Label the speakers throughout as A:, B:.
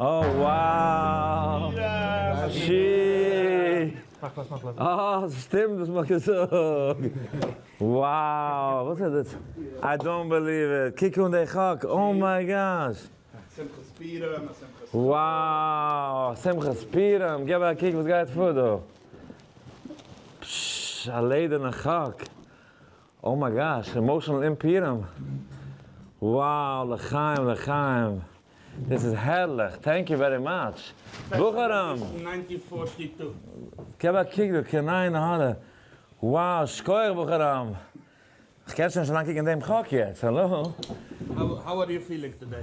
A: אה וואו שיט אה ס'שטימט וואס מ'האט געזאגט וואו וואס איז דאס איי דאנט בעליוו איט קוק אן די חק אוה מיי גאש שמחת פורים וואו שמחת פורים געב א קוק וואס גייט פאר דא פששש א לעדערנע חק אוה מיי גאש אימאשענעל אין פורים וואו לחיים לחיים. דאס איז הערליך, טענק יו ווערי מאטש בחורים!
B: געב א
A: קוק דא, קעניינע הארא, wow, שכוח בחורים! כ'קען שוין נישט אריין קוקן אין דעם חק יעצט, האלא? האו אר
B: יו פילינג
A: טודעי?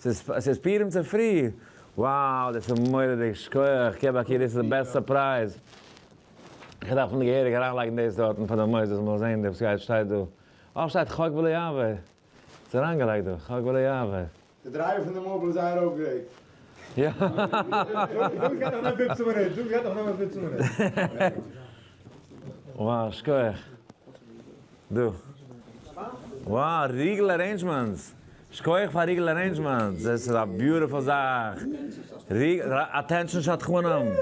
A: ס'איז פורים צופרי! wow דאס איז מורא'דיג! שכוח קעבע קי דאס איז די בעסט סורפרייז! איך דארף מיר געהעריג אריינלייגן דאס דארטן פאר די מוסדות מ'זאל זען וואס גייט שטייט דא. אה שטייט חוק ולא יעבור! ס'איז אריינגעלייגט דא חוק ולא יעבור. די
C: דרייווער
A: פון די מאביל איז זייער אפגרעיט. יא wow שכוח! דא. וואו! ריגל ארעינדזשמענטס! שכוח פאר ריגל ארעינדזשמענטס! דאס איז א ביוטיפול זאך! ריגל אטענשאן שדכנים!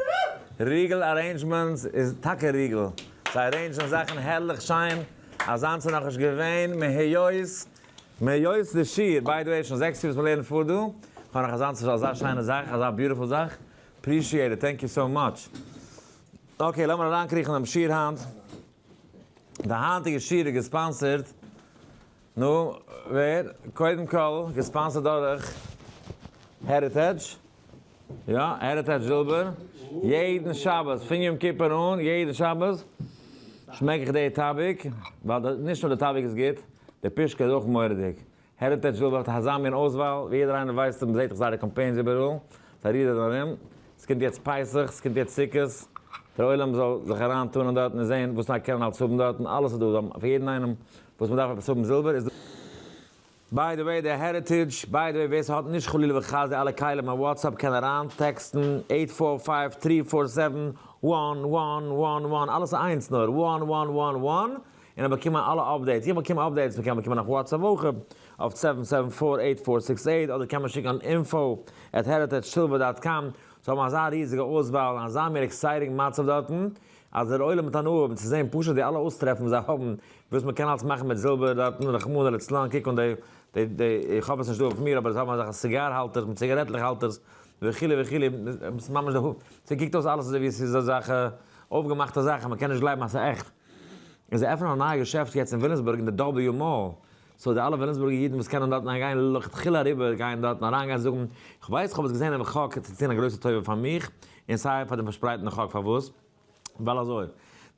A: ריגל ארעינדזשמענטס איז טאקע ריגל! זיי ארעינדזשען זאכן הערליך שיין! אזאנס איז נאכנישט געווען מהיות מהיות די שיעור! ביי די וועי שוין זעקס יאר וואס מ'לערנט פאר דא, כ'האב נאך אזאנס אזא שיינע זאך, אזא ביוטיפול זאך! אפרישיעט איט! טענק יו סאו מאטש! אקעי לאמיר אריינקריכן אינעם שיעור היינט. די היינטיגע שיעור איז געספאנסערד, נו, ווער? קודם כל, געספאנסערד דורך העריטעדזש, יא, העריטעדזש זילבער, יעדן שבת, פון יום כיפור אן, יעדן שבת שמעק איך די טאביק, ווייל נישט נאר די טאביק איז גוט, די פישקע איז אויך מורא'דיג, העריטעדזש וויל וועלכע חזן מין אויסוואל, ווי יעדער איינער ווייסט און מ'זעט דאך זייערע קאמפיינס איבעראל, פאריאר און ארום, ס'קומט יעצט פסח, ס'קומט יעצט סוכות, דער עולם זאל זיך אריין טאן אין דארטן און זען וואס נאר קען מען אלץ האבן דארטן, אלעס איז דא, זיי האבן פאר יעדן איינעם וואס מ'דארף עפעס האבן זילבער איז דא. ביי די וועי די העריטעדזש, ביי די וועי ווער ס'האט נישט חלילה וחס די אלע כלים אויף וואטסעפפ קען אריין טעקסטן עיט פאר פייוו טרי פאר סעווען וואן וואן וואן וואן אלעס איינס נאר וואן וואן וואן וואן און האב באקומען אלע אפדעיטס, איך באקום אפדעיטס, מען קען באקומען נאך וואטס א וואך אפ אויף סעווען סעווען פאר עיט פאר סיקס עיט אדער קען מען שיקן אן אינפא עט העריטעדזש סילווער דאט קאם, זיי האבן אזא ריזיגע אויסוואל און אזא מער עקסייטינג מצב דארטן אז דער עולם האט הנאה האבן צו זען פשוט די אלע אויסטרעפן וואס זיי האבן וואס מען קען אלס מאכן מיט זילבער דארטן רחמנא לצלן קוק אן די די איך האב עס נישט דא אויף מיר אבער זיי האבן אזעלכע סיגאר האלטערס מיט ציגארעטלעך האלטערס וכו' וכו' ממש די ס'קוקט אויס אלעס אזוי ווי ס'איז אזעלכע אויפגעמאכטע זאכן מען קען נישט גלייבן אז ס'איז עכט. און זיי עפענען א נייע געשעפט יעצט אין ווילימסבורג אין די דאבעליו מאל, סאו די אלע ווילימסבורגע אידן וואס קענען דארטן אריין גיין לכתחילה אריבער גיין דארטן אריין גיין זאגן, כ'ווייס כ'האב עס געזען אין חק צו טון א גרויסע טובה פאר מיך און סיי פאר דעם פארשפרייטן חק פארוואס? ווייל אזוי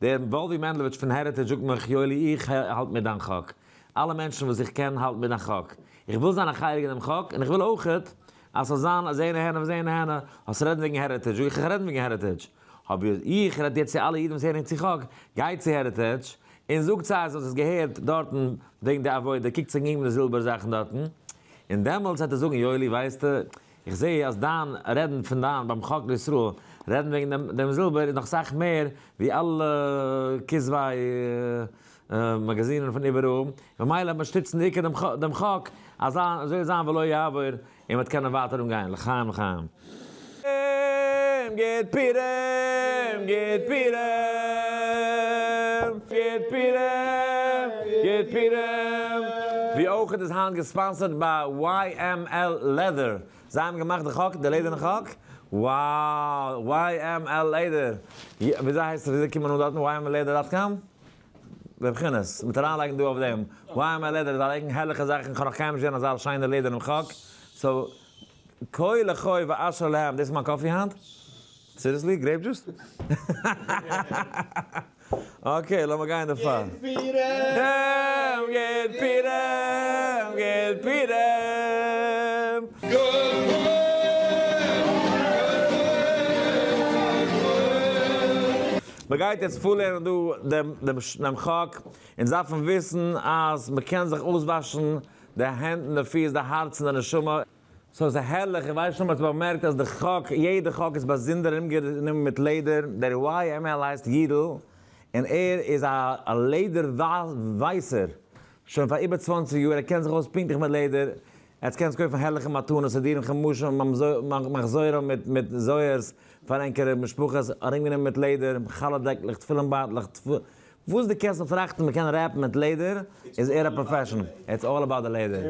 A: דער וואלווי מענדלעוויטש פון העריטעדזש זאגט מיך יואלי איך האלט מיט דיין חק, אלע מענטשן וואס איך קען האלטן מיט דיין חק, איך וויל זיין א חלק אין דעם חק און איך וויל אויכעט אז ס'זאל זיין אז אהן אהן און אהן אהן האסט רעדן וועגן העריטעדזש זאג איך איך רעדן וועגן העריטעדזש האב איך רעדט יעצט צו אלע אידן וואס הערן צו חק, גייט צו העריטעדזש און זאגט זיי אז איר האט עס געהערט דארטן וועגן די עבודה, קוקט זיך אום די זילבער זאכן דארטן, און דעמאלטס וועט ער זאגן יואלי ווייסטו, איך זעה אז דיין רעדן פון דיין ביים חק לישראל רעדן וועגן דעם דעם זילבער איז נאך סאך מער ווי אלע כזבי מאגאזינען פון איבעראל, ממילא העט מען שטיצן די עיקר דעם חק, אזוי זאל זיין ולא יעבור, און מ'האט קענען ווייטער אנגיין לחיים לחיים. פורים גוט פורים גוט פורים גוט פורים גוט פורים. ווי אויך איז היינט געספאנסערט ביי YML לעדער, זיי האבן געמאכט די חק, די לעדערנע חק, wow YML לעדער, וויאזוי הייסט עס וויאזוי קומט מען אן דארטן YML לעדער דאט קאם? דער כינוס, מיט אריינלייגן דא אויף דעם YML לעדער איז א לעגענד, הערליכע זאכן, כ'האב נאך קיינמאל נישט געזען אזא שיינע לעדער און חק, סאו כה לחי ואשר להם, דאס איז מיין קאפי היינט? סיריעסלי? גרעיפ דזשוס? אקעי לאמיר גיין דערפאר. גוט פירעם! גוט פירעם! גוט פירעם! גוט פירעם! מען גייט יעצט פארלערנען דא דעם דעם דעם חק, אונז דארפן וויסן אז מען קען זיך אויסוואשן די הענט און די פיס, די הארץ און די נשמה. סאו ס'איז הערליך, איך ווייס נישט צו מ'האט באמערקט אז די חק, יעדע חק איז באזונדער ארומגענומען מיט לעדער, דער YML הייסט יידל, און ער איז א א לעדער ווייסער שוין פאר איבער צוואנציג יאר, ער קען זיך אויס פונקטליך מיט לעדער, עטס קענטס קויפן הערליכע מתנות סידורים חומשים מחזורים מיט מיט זוהר'ס פאר ענקערע משפחות, ארומגענומען מיט לעדער, חלה דעקלעך, תפילין בייטלעך, טפו, וואס די קענסט אויף ראכטן מען קען רעפן מיט לעדער, איז ער א פראפעשענעל, איטס אלל אבאוט די לעדער,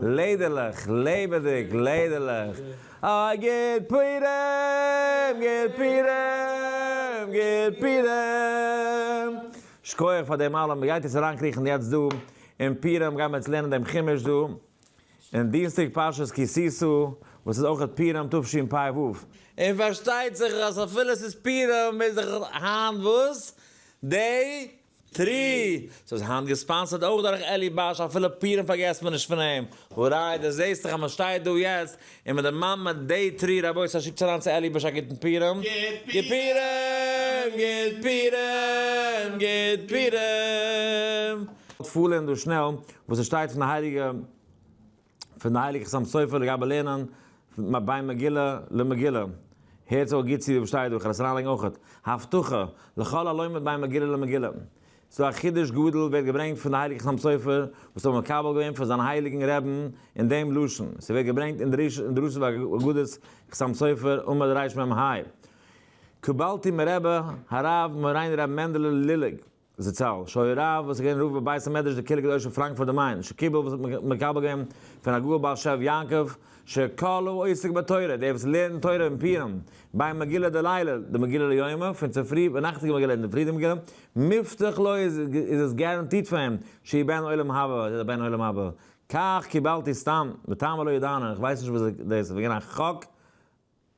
A: לעדערלעך, לעבעדיג, לעדערלעך, אה גוט פורים! גוט פורים! גוט פורים! שכוח פאר דעם אלעם, גייט עטס אריינקריכן יעצט דא אין פורים גייען מיר יעצט לערנען דעם חומש דא, און דינסטאג פרשת כי תשא, וואס איז אויך פורים תשפ ו. און פארשטייט זיך אז אפילו עס איז פורים איז דאך היינט וואס? דעי טרי. סאו איז היינט געספאנסערד אויך דורך אלי באש, אפילו פורים פארגעסט מען נישט פון אים. הוריי, דו זעסט דאך אז מען שטייט דא יעצט און מען דערמאנט מען די תרי רבות אז שיקטס אריין צו אלי בעש א גוטן פירעם. גוט פירעם! גוט פירעם! גוט פירעם! פולען דא שנעל וואס עס שטייט פון די הייליגע פון די הייליגע חתם סופר לגבי לערנען בין מגילה למגילה. הערטס אויך גוט צו וואס שטייט דא, כ'על עס אריינלייגן אויכעט. הבטחה, לכל הלומד בין מגילה למגילה. צו א חידוש גדול ווערט געברענגט פון די הייליגע חתם סופר וואס האבן מקבל געווען פון זיין הייליגן רעבן אין דעם לשון, ס'ווערט געברענגט אין דרשות ואגדות חתם סופר עמוד רש מ ה, קבלתי מרבה הרב מורינו רבי מענדעלע לילג זצל שהיה רב וואס איז געווען רב בבית המדרש דקהילה הקדושה אין פראנקפורט דעם מיין שקיבל וואס האט מקבל געווען פון הגאון בעל שב יעקב שכולו עוסק בתורה דער וואס לערנט תורה אין פורים ביי מגילה דלילה די מגילה ליומא פון צופרי ונאכטיגע מגילה אינדערפרי די מגילה מובטח לו איז איז עס גאראנטירט פאר אים, שיהיה בן עולם הבא איז ער בן עולם הבא, כך קיבלתי סתם, בטעמא לא ידענא, איך ווייס נישט וואס דאס איז וועגן א חוק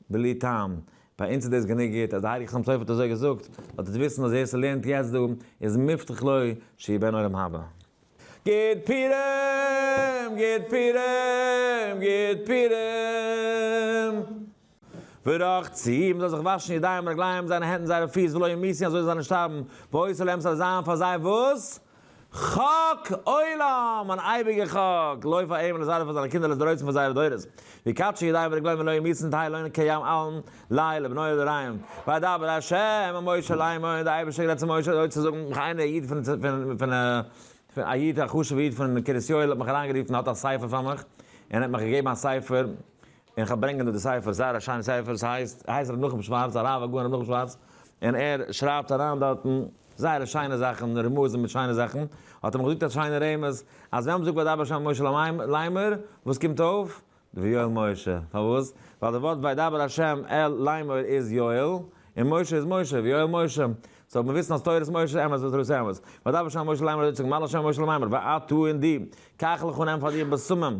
A: בלי טעם, ביי אונז איז דאס גענוג גוט אז דער הייליגער חתם סופר האט אזוי געזאגט, זאלט איר וויסן אז ווער ס'לערנט יעצט דא איז מובטח לו שיהיה בן עולם הבא. גיט פירעם! גיט פירעם! גיט פירעם! ורחצ י, מען זאל זיך וואשן ידיים רגליים זיינע הענט און זייערע פיס ולא ימיסין אזוי זאל זיי נישט שטארבן, ועושה להם ס'זאל זיין פאר זיי וואס? חק עולם! אן אייביגע חק! לויף פאר אים און לזרעו פאר זיינע קינדער לדורות פאר זייערע דורות. ויקדשו ידיים ורגליים ולא ימיסין תהא עליון כיום אלן ל ע לבניו לדוריים. וידבר ה' אל משה לאמור, דער אייבישטער האט גערעדט צו משה אזוי צו זאגן, מיך איינער א איד פון פון א איד א חשוב'ע איד פון קרית יואל האט מיך אריינגערופן האט א ספר פאר מיך, און ער האט מיך געגעבן א ספר און איך האב ברענגען דא די ספר, זייער א שיינע ספר, ס'הייסט, הייסט רבי נחום שווארץ, הרב הגאון רבי נחום שווארץ, און ער שרייבט אריין דארטן זייערע שיינע זאכן, רמזים מיט שיינע זאכן, האט ער מיך געזאגט א שיינע רמז, אז ווען מ'זאגט וידבר שם משה ליימער, וואס קומט אויף? ויואל משה, פארוואס? ווייל די ווארט וידבר השם אל ליימער איז יואל, און משה איז משה, ויואל משה, סאו מיר וויסן אז תורת משה איז אמת ותורת משה איז אמת, וידבר שם משה ליימער האט אויך צוגעזאגט מלאך שם משה ליימער, ואטו און דו, קח לך און נעם פאר דיר בשמים.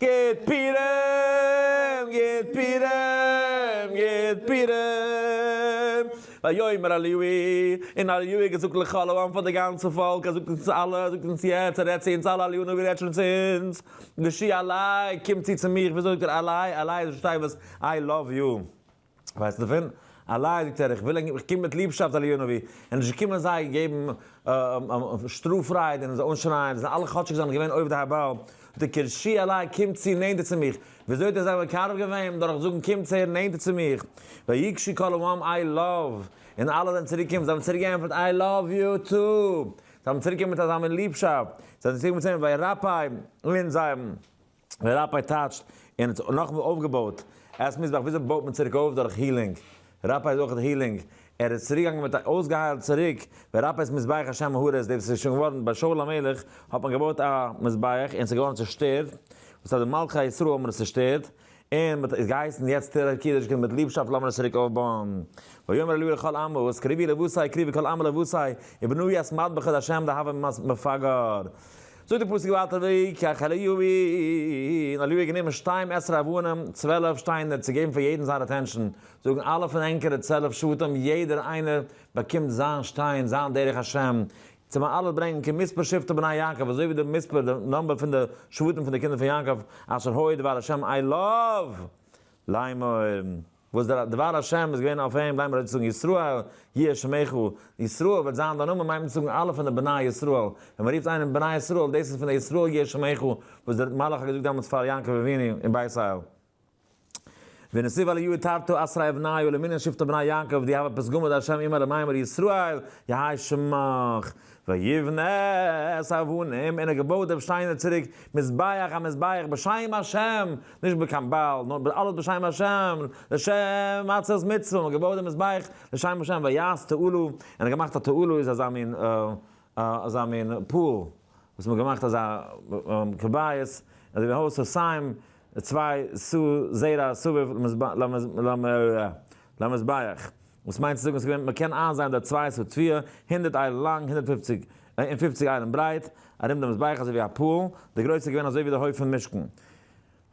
A: גיט פּורים! גיט פּורים! גיט פּורים! ויאמר אליהו, און אליהו האט געזאגט לכל העם פאר די גאנצע פאלק, ער זאגט אונז אלע, ער זאגט אונז יעצט, ער רעדט צו אונז אלע, אליהו הנביא רעדט שוין צו אונז, ושי אלי, קום צו צו מיך, וויאזוי זאגט ער אלי? אלי איז נישט שטיי וואס, איי לאוו יו. ווייסט דערפון? אליי, זאגט ער, איך וויל ענק, איך קום מיט ליבשאפט אל יאנאווי, ענק נישט געקומען אזי געבן שטראף רייד און אזוי אנשרייען, זיי זענען אלע כאטשיג זיי זענען געווען עובדי הבעל, זאגט ער, קערשי אליי, קום צו נענטער צו מיך, וויאזוי האט ער זיי מקרב געווען? דורך זאגן קום צער נענטער צו מיך, ויקשו כולם איי לאוו, און אלע זענען צוריק געקומען, זיי האבן צוריק געענטפערט איי לאוו יו טו, זיי האבן צוריק געענטפערט מיט אזא מין ליבשאפט, זיי זענען צוריק געקומען צו אים וירפא און זיי האבן. ראפיי טאטשט און האט נאכמער אויפגעבויט עס מוז דאך וויאזוי בויט מען צוריק אויף דורך הילינג, ראפיי איז אויכעט הילינג, ער איז צוריק געגאנגען מיט א אויסגעהיילט צוריק, ווען ראפיי איז מזבח השם מהרס ד וואס איז שוין געווארן ביי שאול המלך האט מען געבויט א מזבח און עס איז געווארן צושטערט וואס אז די מלכי ישראל האבן עס צושטערט און מען האט געהייסן יעצט טערע קידוש קומט מיט ליבשאפט לאמיר עס צוריק אויפבויען ויאמר אליהו לכל עמו וואס קריבי לבושי קריבי כל עמו לבושי ובנו יעשט מטבח את השם דהוה מפגר. זאגט דער פסוק ווייטער ויקח אל יבין, אליהו האט גענומען שתים עשרה אבנים, צוועלף שטיינער צו געבן פאר יעדן זיין אטענשאן, זאגן אלע פון ענקערע צוועלף שבטים יעדער איינער באקומט זיין שטיין, זיין דרך השם, צו מען אלעס ברענגן כמספר שבטי בני יעקב, אזוי ווי די מספר, די נומבער פון די שבטים פון די קינדער פון יעקב, אשר הוי דבר השם אליו לאמור. וואס דער דבר השם איז געווען אויף אים, ליימער אויס צו זאגן ישראל יהיה שמך, ישראל וועט זיין דיין נאמען, מיינט מען צו זאגן אלע פון די בני ישראל, ווען מען רופט איינעם בני ישראל, דאס איז פון די ישראל יהיה שמך, וואס דער מלאך האט געזאגט דעמאלטס פאר יעקב אבינו אין בית אל. ונסיב אל יהיו תרתו עשרה אבני ולמנין שבטו בני יעקב, די הוה פסגא מאת ה' אמר למימר ישראל יהי' שמך, ויבנה את האבנים, און ער געבויט דעם שטיינער צוריק, מזבח א מזבח בשם השם, נישט בקן בעל, נאר אלעס בשם השם, לשם עצרת מצוה, מ'האט געבויט דעם מזבח לשם השם, ויעש תעלו, און ער האט געמאכט א תעלו איז אזא מין אזא מין פאל, וואס מ'האט געמאכט אזא כבאית, אזוי ווי הויז אויף סיים, צוויי סו זרע סביב למזבח. וואס מיינט צו זאגן עס איז געווען מ'קען איינזייען דער צוויי סו טפיה, הונדערט איילן לאנג, הונדערט פופציג, און פופציג איילן ברייט, ארום דעם מזבח אזוי ווי א פאל, די גרויס איז געווען אזוי ווי די הויף פון משכן.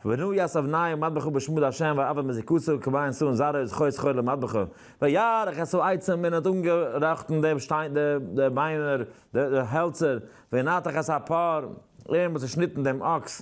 A: ונאו יעש אבניהו מטבחו בשמו די השם ואבד מזיקותו כבין סאו און זרעו איז חוי שכור למטבחו ויערך את סאו עצם מען האט אנגעראכטן די שטיין די ביינער די האלצער וינתח את הפאר און מען האט צושניטן דעם אקס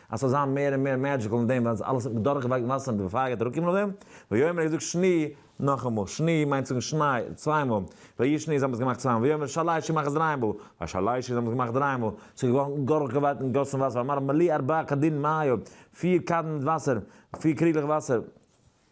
A: אז ס'זאל זיין מער און מער מעדזשיקל אין דעם ווייל ס'איז אלעס דורך וואג וואסער און פייער גייט אראפקומען אויף דעם, ויאמר ער האט געזאגט שני נאכאמאל, שני מיינט זאגן שניי צוויי מאל, ויהי שני זיי האבן עס געמאכט צוויי מאל, ויאמר שלישי מאך עס דריי מאל, והשלישי זיי האבן עס געמאכט דריי מאל, ס'איז געווארן דורך געוואג און געגאסן וואסער, ואמר מלא ארבעה קדין מים פיר קאדן מיט וואסער, פיר קריגלעך וואסער.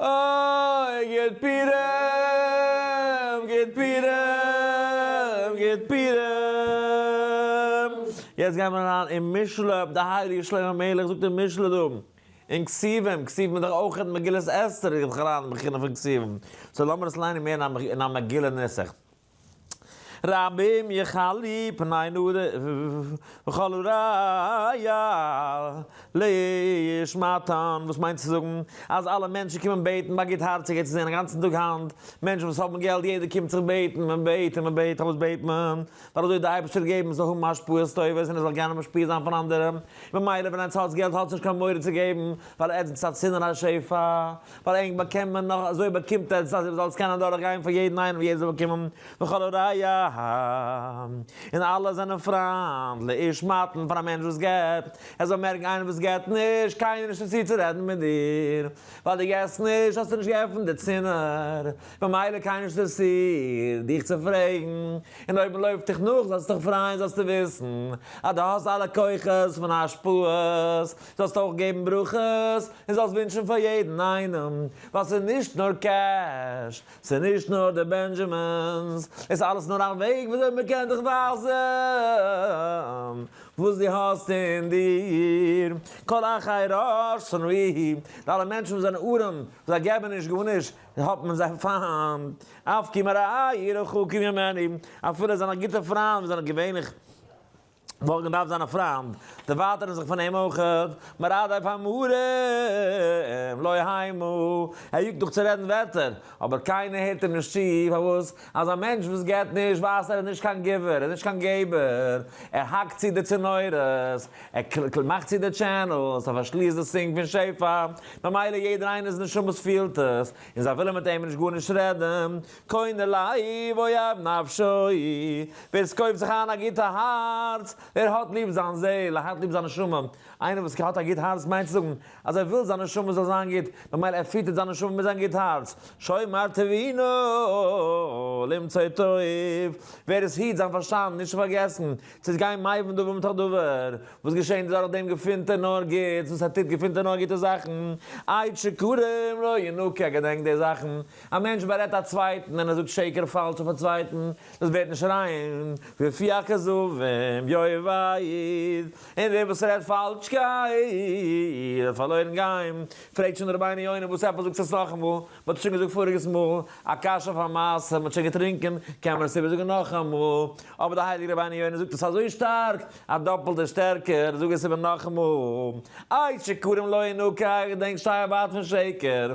A: אוי גיט פירעם גיט פירעם גיט פירעם יעצט גייט מען אריין אין משלי אויף די הייליגע שלמה המלך זאגט אין משלי דא אין כתובים כתובים איז דאך אויך מגילת אסתר גיט זיך אריין אין בחינה פון כתובים סאו לאמיר עס ליינען מער אין א מגילה נוסח. רבים יכלי פני נדב וכלו ראיה להשמעתן, וואס מיינט צו זאגן אז אלע מענטשן קומען בעטן ביי גוטהארציגע צו זען א גאנצן טאג היינט מענטשן וואס האבן געלט יעדער קומט זיך בעטן מען בעט און מען בעט אלעס בעט מען ווייל אזוי די אייבערשטער געבן מען זאל האבן השפעות טובות און עס זאל גיין און משפיע זיין פון אנדערע ממילא ווען איינס האט געלט האט עס נישט קיין מורא צו געבן ווייל עטס האט צו נאר א שפע ווייל ענק באקומט מען נאך אזוי באקומט ער עס אז ער זאל עס קענען דורך גיין פאר יעדן איינעם ווי ער זאל באקומען וכל הראיה און אלע זענען פריינט לאיש מתן פאר א מענטש וואס געבט ער זאל מערקן איינער וואס געבט נישט קיינער נישט צו צו רעדן מיט דיר ווייל דו געבסט נישט האסטו נישט געעפנט די צינור במילא קיינער נישט אינטערעסירט דיך צו פרעגן און אויב מען לויפט דיך נאך זאלסטו דיך פריין זאלסטו וויסן אז דו האסט אלע כוחות פון השפעות זאלסט אויך געבן ברכות, און זאלסט ווינטשן פאר יעדן איינעם, ווייל ס'איז נישט נאר קעש, ס'איז נישט נאר די בענדזשעמינס, עס אלעס נאר א וועג וויאזוי מען קען דיך ווייזן וואס דו האסט אין דיר, כל אחי רש שנאי, די אלע מענטשן וואס זענען ארעם, וואס זיי געבן נישט גארנישט, האט מען זיי פיינט, אף כי מרעי רחוקים ממני, אפילו זיינע גוטע פריינד וואס זענען געווענליך. מארגן דארף זיין א פריינד, דערווייטערן זיך פון אים אויך, מרדכי פאר מהרם לא היימו, ער יאגט נאך צו רעדן ווערטער, אבער קיינער הערט אים נישט צו, פארוואס? אז א מענטש וואס געבט נישט ווייזט ער איז נישט קיין גיבער, ער איז נישט קיין געבער, ער האקט צו די צינורות, ער מאכט צו די טשענעלס, ער פארשליסט די סינק פון שפע, ממילא יעדער איינער'ס נשמות פילט עס, און זיי ווילן מיט אים נישט גארנישט רעדן, קונה לאי ואוהב נפשו, ווער ס'קויפט זיך איין א גוטע הארץ, ווער האט ליב זיין זעהל, ער האט ליב זיין נשמה, איינער וואס האט א גוט הארץ מיינט צו זאגן אז ער וויל זיין נשמה זאל זיין גוט, ממילא ער פיטערט זיין נשמה מיט זיין גוט הארץ, שומר טבינו למצוא טוב, ווער עס היט זיין פארשטאנד נישט צו פארגעסן צו עס גיין מבין דבר מתוך דבר, וואס געשענט איז דורך דעם געפינט ער נאר גוטס, וואס ער טוט געפינט ער נאר גוטע זאכן, עד שיכורים לא ינוקה, ער געדענקט די זאכן א מענטש בארעדט א צווייטן און ער זאגט שקר פאלש אויף א צווייטן, דאס ווערט נישט ריין, ופי הכזבים יאיר ואיד, און דער וואס רעדט פאלשקייט וועט פארלוירן גיין, פרעגט שוין די רבי'ן יונה וואס עפעס זאגסטו עס נאכאמאל, מען האט עס שוין געזאגט פאריגעס מאל, א קשיא אויף א מעשה, מען האט שוין געטרינקען, קען מען עס איבערזאגן נאכאמאל, אבער די הייליגע רבי'ן יונה זאגט עס אזוי שטארק, א דאפלטע שטערקער, זאג עס איבער נאכאמאל, איי שיכורים לא ינוקא, איך דענק שטייער ווייט פון שקר,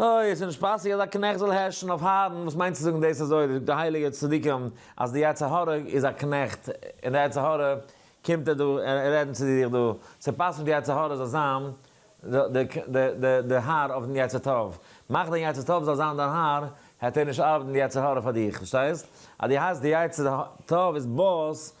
A: אוי, עס איז נישט פאסיג אז א קנעכט זאל הערשן אויף הארן, וואס מיינט צו זאגן דאס אזוי, די הייליגע צדיקים אז די יצר הרע איז א קנעכט, און די יצר הרע קומט ער דא רעדן צו דיר דא, צו פאסן די יצר הרע זאל זיין די האר אויף די יצר טוב, מאך די יצר טוב זאל זיין דיין האר, העט ער נישט ארבעטן די יצר הרע פאר דיך, פארשטייסט? אז די הייסט די יצר טוב איז באס.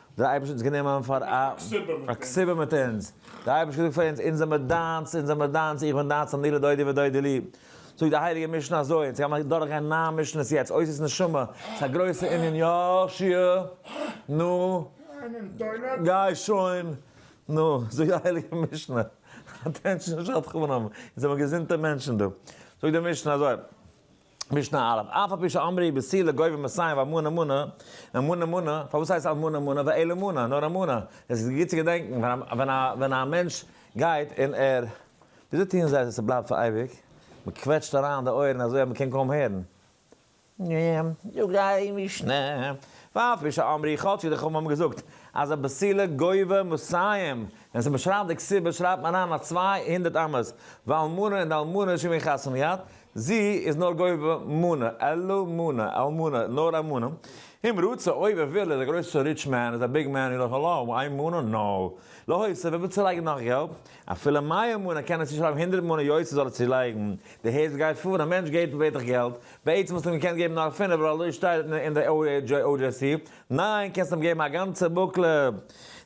A: דער אייבערשטער האט אונז גענומען פאר א כסדר מיט אונז, דער אייבערשטער זאגט פאר אונז, אונז זעמיר דיינס, אונז זעמיר דיינס, איך בין דיינס אני לדודי ודודי לי, זאגט די הייליגע משנה אזוי, אונז גיימיר דורכגיין נײַן משנות יעצט, אויס איז נשמה, ס'איז א גרויסע ענין, יא, שי', נו, גיי שוין, נו, זאגט די הייליגע משנה, אטענשאן שדכנים, אונז זעמיר געזונטע מענטשן דא, זאגט די משנה אזוי, משנה א', אף על פי שאמרי בסי' לגובה מסיים ואמון אמונה, אמון אמונה, פארוואס הייסט אמון אמונה ואל אמונה, נאר אמונה, עס איז גוט צו געדענקן ווען א מענטש גייט און ער, וויאזוי טוען זיי אז עס בלייבט פאר אייביג? מען קוועטשט אריין די אויערן אזוי אז מען קען קוים הערן. זאגט די משנה, ואף על פי שאמרי כאטשיג די חכמים האבן געזאגט אז על בסי' לגובה מסיים, ווען מען שרייבט די כסובה שרייבט מען אריין א צוויי הונדערט אמות, ואלמנה און די אלמנה איז שוין ווי חתן מיד, זי איז נאר גובה מנה, אלא מנה, על מנה, נאר א מנה. אם רוצה, אויב ער וויל, ער איז א גרויסע ריטש מען, איז א ביג מען און נאך אלעם, איין מנה, נאו! להוסיף, ער וויל צולייגן נאך געלט, אפילו מאה מנה, קען ער צושרייבן הונדערט מנה יוצא זאל ער צולייגן, די הערץ גייט פאר, א מענטש געבט בעט איך געלט, בעצם וואלסט אים געקענט געבן נאר פינף ווייל אזוי שטייט אין די OJC, ניין קענסט אים געבן א גאנצע בוקלע,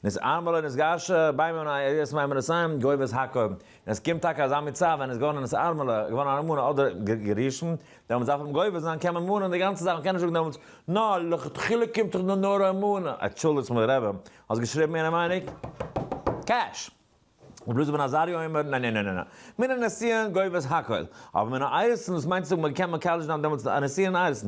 A: נס ערמלא נס געשא, ביי מנין ער יעצט מיין מנין, גובה איז הק'. און עס קומט טאקע אזא מצב ווען ער איז געווארן אן ארמעלע, געווארן אן אלמנה אדער גע'גרש'ן, דעמאלטס דארף מען גובר זיין, קען מען מארן די גאנצע זאך, מען קען נישט זאגן דעמאלטס, נא, לכתחילה קומט דאך דא נאר אן אלמנה. אטשולדיגטס מיר רעבע, האסט געשריבן מיין מיינוג? קעש! רבי אלעזר בן עזריה אומר, נא נא נא נא נא, מן הנסיון גובר'ס הכל, אבער מן האיירסן, וואס מיינט צו זאגן מען קען מקדש זיין דעמאלטס א נסיון איירסן?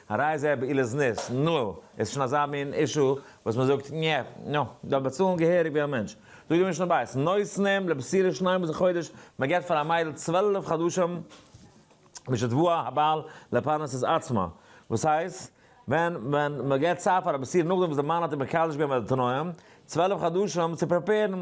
A: הרי זה בעילת ניס, נו, איז שוין אזא מין אישו וואס מען זאגט, ניע, נו, דארף באצאלן געהעריג ווי א מענטש. זאגט די משנה בית, נותנים לבשורה שניים בזה חודש, מען געבט פאר א מיידל צוועלף חדשים משתבוא הבעל לפרנס את עצמו, וואס הייסט, ווען מען געבט צייט פאר א בשורה נאכדעם וואס די מאן האט איר מקדש געווען מיט די תנאים, צוועלף חדשים צו פרעפערן,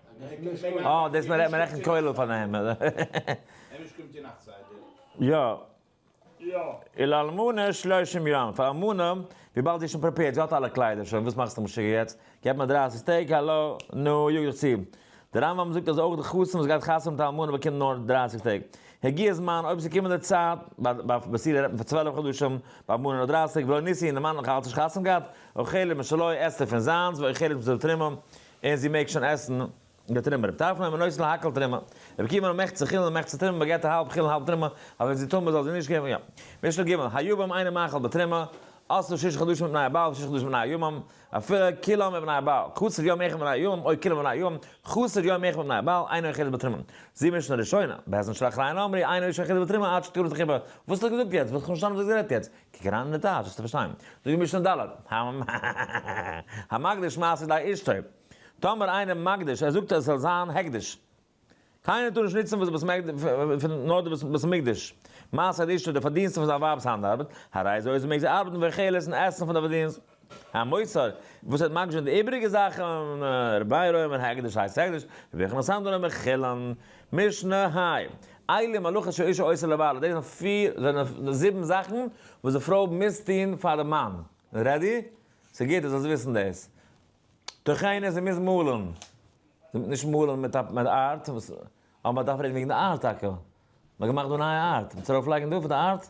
A: אה, דאס מען רעכנט כולל פארן הימל.
C: יא.
A: און לאלמנה שלושים יום, פאר אלמנה, וויבאלד זי איז שוין פרעפעירד, זי האט אלע קליידער שוין, וואס מאכסטו משוגע יעצט? געב מיר דרייסיג טעג, האלא, נו, יאג דיך צו. דער רמב ם זאגט אז אויך די חתן וואס גייט חתונה מיט א אלמנה באקומט נאר דרייסיג טעג. הגיע הזמן, אויב ס'איז קומענדע צייט, ביי פרעסידער רעדט מען פון צוועלף חדשים, ביי אלמנה נאר דרייסיג, ולא ניסין, די מאן האט נאך אלץ נישט חתונה געהאט, אוכלת משלו, עסט ער פון זיינס, ואוכלת מזו תרומה, און זי מעג שוין עסן די תרומה. רב טרפון אינו אוסר להקל תרומה. רבי עקיבא אינו מחצי חילן און מחצי תרומה, מ'געט א האלב חילן האלב תרומה, אבער ווען זי טמא זאל זי נישט געבן יא. משנה ג', היבם אינו מאכל בתרומה, אסור שישה חדשים מבני הבעל ושישה חדשים מבני היבם, אפילו כלא מבני הבעל, קצר יום אחד מבני היבם או כלא מבני היבם, חסר יום אחד מבני הבעל, אינו יחיד בתרומה. זי משנה ראשונה, בעז ה שלח ריינה אמרי, אינו אישה יחידה בתרומה עד שתקרא תחיבה. וואס האט ער געזאגט יעצט? וואס כ'האב נישט פארשטאנען וואס האט גערעדט יעצט. קוקן אריין אין די טאש וועסטו פארשטיין. זאגט די משנה ד', המקדיש מעשר לאשתו, טאמער איינער מקדיש, ער זאגט אז עס זאל זיין הקדש, קיינער טאר נישט נוצן וואס נאר די בית המקדש, מעשר לאשתו, די פארדינסטן פון זיין ווייב'ס האנט ארבעט, הרי זה אויז מעג זי ארבעטן ואוכלת און עסן פון די פארדינסט. א מוסר וואס האט מקדש די איבריגע זאכן, רבי ר' אומר הקדש הייסט הקדש, רבי יוחנן סנדלר אומר חילון, משנה היי, איילי מלאכת שאישה עושה לבעלה, דאס זענען פיר, זענען זיבן זאכן וואס די פרוי מוז טון פאר די מאן, רעדי? ס'גוט אז זאלסט וויסן דאס. תכענות, זי מוז מאלן, נישט מאלן מיט א מיט ארט, אבער מ'דארף רעדן וועגן די ארט טאקע, מ'האט געמאכט דא א נייע ארט, מ'האט ארויף לייגן דא פאר די ארט?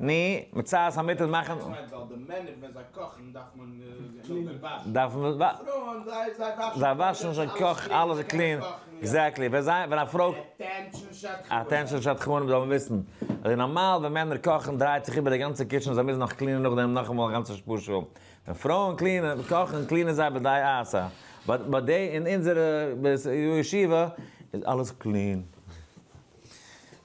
A: ני, מצות המיטלט מאכן. איך מיין ווייל די מענער ווען זיי קאכן דארף מען זיי נאכדעם
C: וואשן. דארף מען וואשן. פרויען
A: זיי זיי וואשן. זיי וואשן זיי קאכן אלעס איז קלין. עקזעקטלי ווען זיי ווען א פרוי. אטענשאן שדכנים. אטענשאן שדכנים זאל מען וויסן אז איז נארמאל ווען מענער קאכן דרייט זיך איבער די גאנצע קיטשען זיי מוזן נאך קלינען נאכדעם נאכאמאל א גאנצע שפאשע ווען פרויען קלינען קאכן קלינען זיי בדעה עשה באט באט דעי אין אונזערע בית ישיבה איז אלעס קלין.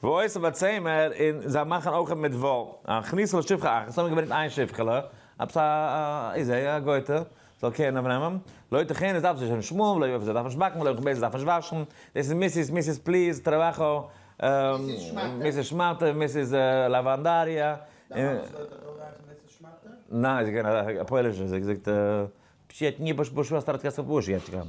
A: ועושה בצמר, און זיי מאכן אויך מיט וואל, א כניסה לשפחה אחת, און זיי האבן געברענגט איין שפחה'לע, עפעס א איזעי, א גוי'טע, זאל קעיר נעמענם, לא יתכן עס דארף זיך נישט שמוען, ולא יופי זיי דארפן נישט באקן, ולא יכבד זיי דארפן נישט וואשן, דאס איז מיסיס, מיסיס פליז, טראבאכא, מיסיס שמאטע, מיסיס לאוואנדאריא, און. די מאמע זאגט אזוי רייך מיסיס שמאטע? ניין, זי איז געווען א פוילישע, זי האט געזאגט פשט ני בש בוש אסתר אתקסף בוש יעטשקא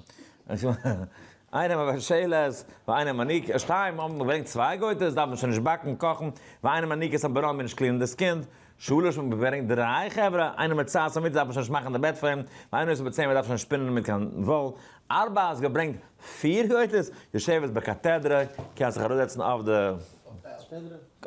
A: איינעם א בעשעלעס ואיינעם א ניק שתיים האבן געברענגט צוויי גויטעס דארף מען שוין נישט באקן קאכן ואיינעם א ניקס א בראן מען נישט קלינען דאס קינד שלש האבן געברענגט דריי חברה איינעם א צייט סאמיט דארף מען שוין נישט מאכן די בעט פאר אים ואיינעם עס בצער מען דארף שוין נישט שפינען מיט קיין וואל ארבע האסט געברענגט פיר גויטעס יושבת בקאטעדרע קענסט זיך אראפזעצן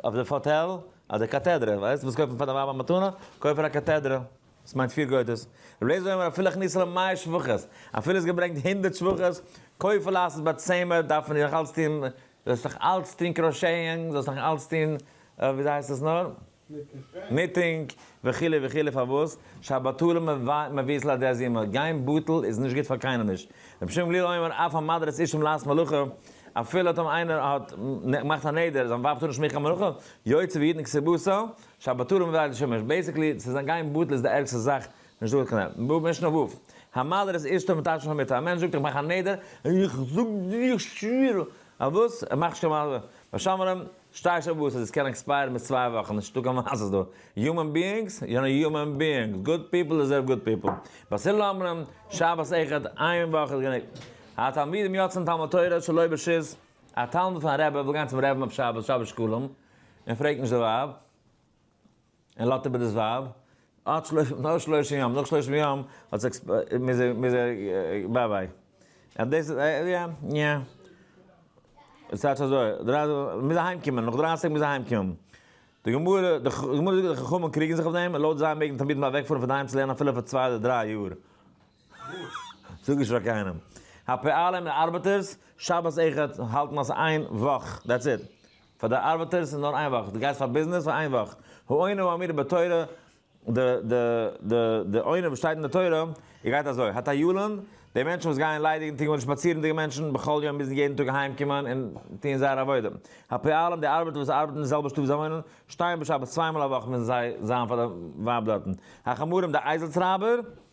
A: אויף די פאטעל אדער קאטעדרע ווייסט וואס קויפן פאר די ווייב א מתנה קויף איר א קאטעדרע. וואס מיינט פיר גודות? רבי אליעזר אומר אפילו הכניסה לו מאה שבחות, אפילו עס געברענגט הונדערט שבחות, כופר לעשות בה צמר, דארף מען נאך אלץ טון, זאלסט נאך אלץ טון קראשעאינג, זאלסט נאך אלץ טון, ווי הייסט עס נאר? ניטינג. וכו' וכו' פארוואס? שהבטלה מביאית לידי הזימה, גיין בטל איז נישט גוט פאר קיינעם נישט. רבי שמעון גלילי אומר אף המדרת אישים לעשות מלאכה, אפילו האט אים איינער האט געמאכט א נדר, זיין ווייב טאר נישט מאכן קיין מלאכה, יוצא וידנק סבותא, שבתרם ודאי איז שוין מערסט. בעיסיקלי צו זיין גיין בטל איז די ערגסטע זאך, נישט דא קיין ענד. בא משנה וו. המלר איז אישתו מתשמין המיתה, א מענטש זאגט איך מאך א נדר, איך זאג דיר איך שווער, אויף וואס? ער מאכט שוין מלר. ביי שומרים, שטייער שבועות אז עס קען עקספייערן ביז צוויי וואכן, נישט דא קיין מעשה'ס דא. יומען ביאינגס, יענע יומען ביאינגס, גוד פיפל דעזערוו גוד פיפל. ביי סילא אומרים, שבת אחד, איין וואך איז גענוג. התלמידים יוצאין תלמוד תורה שלא ברשות, א תלמיד פון א רבי וויל גיין צום רעבען אויף שבת, שבת שקלים, און פרעגט נישט די ווייב, און לאט איבער דאס ווייב, עד שלושים, נאך שלושים יום, נאך שלושים יום, האט זיך עקספ, מוז ער, מוז ער, ביי ביי. און דאס איז, יא, יא, יא. עס טייטש אזוי, דרייסט, מוז אהיים קומען, נאך דרייסיג טעג מוז אהיים קומען. די גמרא, די גמרא זאגט אז די חכמים קריגן זיך אויף דעם, לויט זיי מעג די תלמידים אוועקפארן פון די היים צו לערנען אפילו פאר צוויי אדער דריי יאר. זאג נישט פאר קיינעם. אפי' אלע ארבעטערס, שבת אחד האלטן אז ס'איז איין וואך, דעטס איט. פאר די ארבעטערס איז נאר איין וואך, דו גייסט פאר ביזנעס פאר איין וואך. העונה ואמירה בתורה, די די די די עונה וואס שטייט אין די תורה גייט אזוי, הטיילון, די מענטשן וואס גייען ליידיגן טו גארנישט שפאצירנדיגע מענטשן בכל יום מוזן יעדן טאג אהיים קומען און טון זייער עבודה. אפי' אלעם די ארבעטער וואס ארבעטן אין די זעלבע שטוב ווי זיי וואוינען, שטייען בשבת צוויי מאל א וואך מוזן זיי זיין פאר די ווייב דארטן. החמורים די אייזל טרייבער.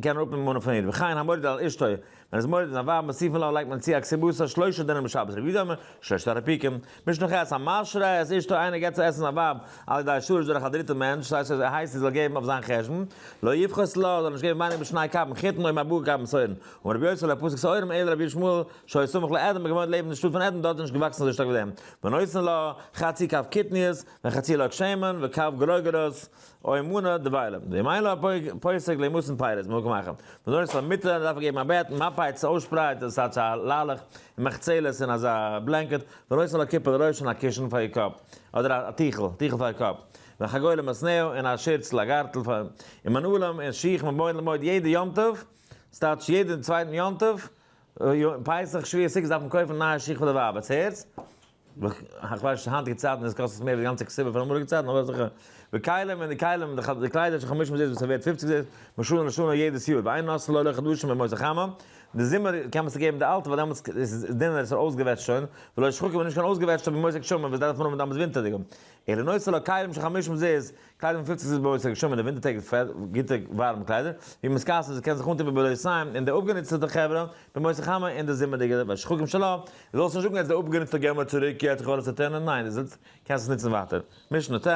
A: געבן אראפ אין מנה פון איד, וכן המוריד על אשתו, ווען איז מוריד און א ווייב מוסיפין לה לייגט מען צו א כסבוסר שלשה דינים בשבת רביעי דאמר שלשת הרפיקים, משנכ ח א משרה את אשתו איינער געבט צו עסן זיין ווייב על ידי שרש דורך א דריטע מענטש ס'הייסט אז ער הייסט זי זאל געבן אויף זיין חשבון, לא יפחת לה זאל נישט געבן ווייניגער משני כפים חיתן אויב ארבעה כפים שעורים, אמר רבי יוסף לה פסק שעורים אלא רבי שמואל שהיה סמוך לעדן געוואוינט לעבן די שטאט פון עדן דארט איז נישט געוואקסן אזוי שטארק ווי דעם, ונותן לה חצי כף קטניות וחצי לג שמן וכף גרוגרות או אמונה דביילם, די מיילע א פסק לעמוס און פייער איז מוקם מאכן, בנוסף צו א מיטעל דארף ער געבן א בעט, מאפייט צו אויסשפרייט און סאטש א לאלעך, און מחצלת און אזא בלענקעט, בנוסף א קיפל לראש און א קישן פאר איר קאפ, אדער א טיכל, טיכל פאר איר קאפ, וחגוי למסנהו און א שירצל א גארטל פאר, און מנעולים און שיך מבעוד למועד יעדע יום טוב, סטאטש יעדע צווייטן יום טוב, פסח שביעי סוכות דארף מען קויפן נייע שיך פאר די ווייב, עטס הערטס? איך ווייס נישט היינטיגע צייטן איז קאסט עס מער די גאנצע כסדר פון אמאליגע צייטן אבער אזעלכע ווי כלים און די כלים און די קליידער שכ חמש מאות זייט וואס ס'ווערט פופציג זייט משנה לשנה יעדעס יאר ואין נושא לא עולה חדשים במועצת חמה די זומער קען מען צוגעבן די אלטע ווייל דעמאלטס איז עס דינער עס איז אויסגעוועטשט שוין ולא שחוק און נישט קיין אויסגעוועטשטע במועצת גשמים וואס דארף מען האבן דאמאלטס ווינטערדיגע אלא נושא לא כלים שכ חמש מאות זייט קליידונג פילט זיך זיס ביי אויס א געשומענע ווינטער טעג איז פעט גוטע ווארעמע קליידער ווי מען סקאסען זיי קען זיך אנטון ביבער לויס סיין און די אפגענוצטעטע חברה במועצת חמה אין די זומערדיגע וואשכוקים של ה די זאלסט נישט זאגן עס איז אפגענוצטע גיי מיר צוריק יעצט איך האב אלעס צוטענה'ן ניין די זאלסט קענסט עס נוצן ווייטער משנה ט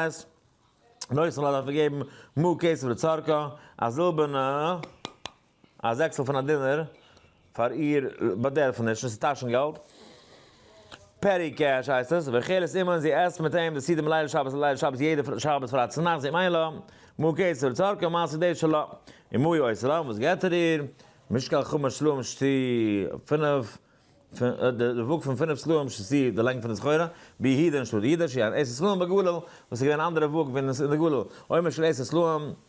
A: לויס של ה דארף מען געבן מאה כסף לצרכו א זילבערנע א זעקסל פון א דינער פאר איר באדערפעניש און ס'איז טאשן געלט. פעטי קעש הייסט עס. והחל את עמהן זי עסט מיט אים די סעודה מליל שבת לליל שבת יעדע שבת פרייטאג צונאכטס זי מיין לה מה כסף לצרכיה ומה סעודי שלה און מה היא עושה לה וואס געבט ער איר משקל חמש סלעים שתי פינף די וואג פון פינף סלעים שתי די לענג פון די סחורה ביהודה און שטאט יהודה שהיא אן עשר סלעים בגליל וואס איז געווען אן אנדערע וואג ווי אין די גליל עומר של עשר סלעים.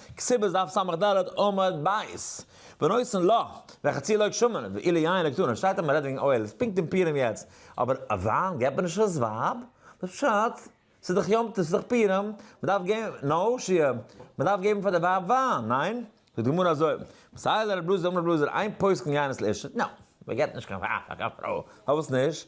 A: כסבס דף סמך ד עמוד ב', בנושאין לא, וועלכע צי לויג שמן, ואי ליין לויג תאנה, שטייט אז מ'רעדט וועגן אויל, איז פונקט אין פורים יעצט, אבער אויף וויין געבט מען נישט אויס ווייב, וואס פשט? ס'איז דאך יום טוב, ס'איז דאך פורים, מ'דארף געבן, נא הושיע, מ'דארף געבן פאר די ווייב וויין, ניין? זאגט די גמרא אזוי, מסייע לרב אלעזר אמר רב אלעזר, אין פוסק אין יין אסור, נא, מ'געבט נישט קיין וויין פאר קיין פרוי, פארוואס נישט?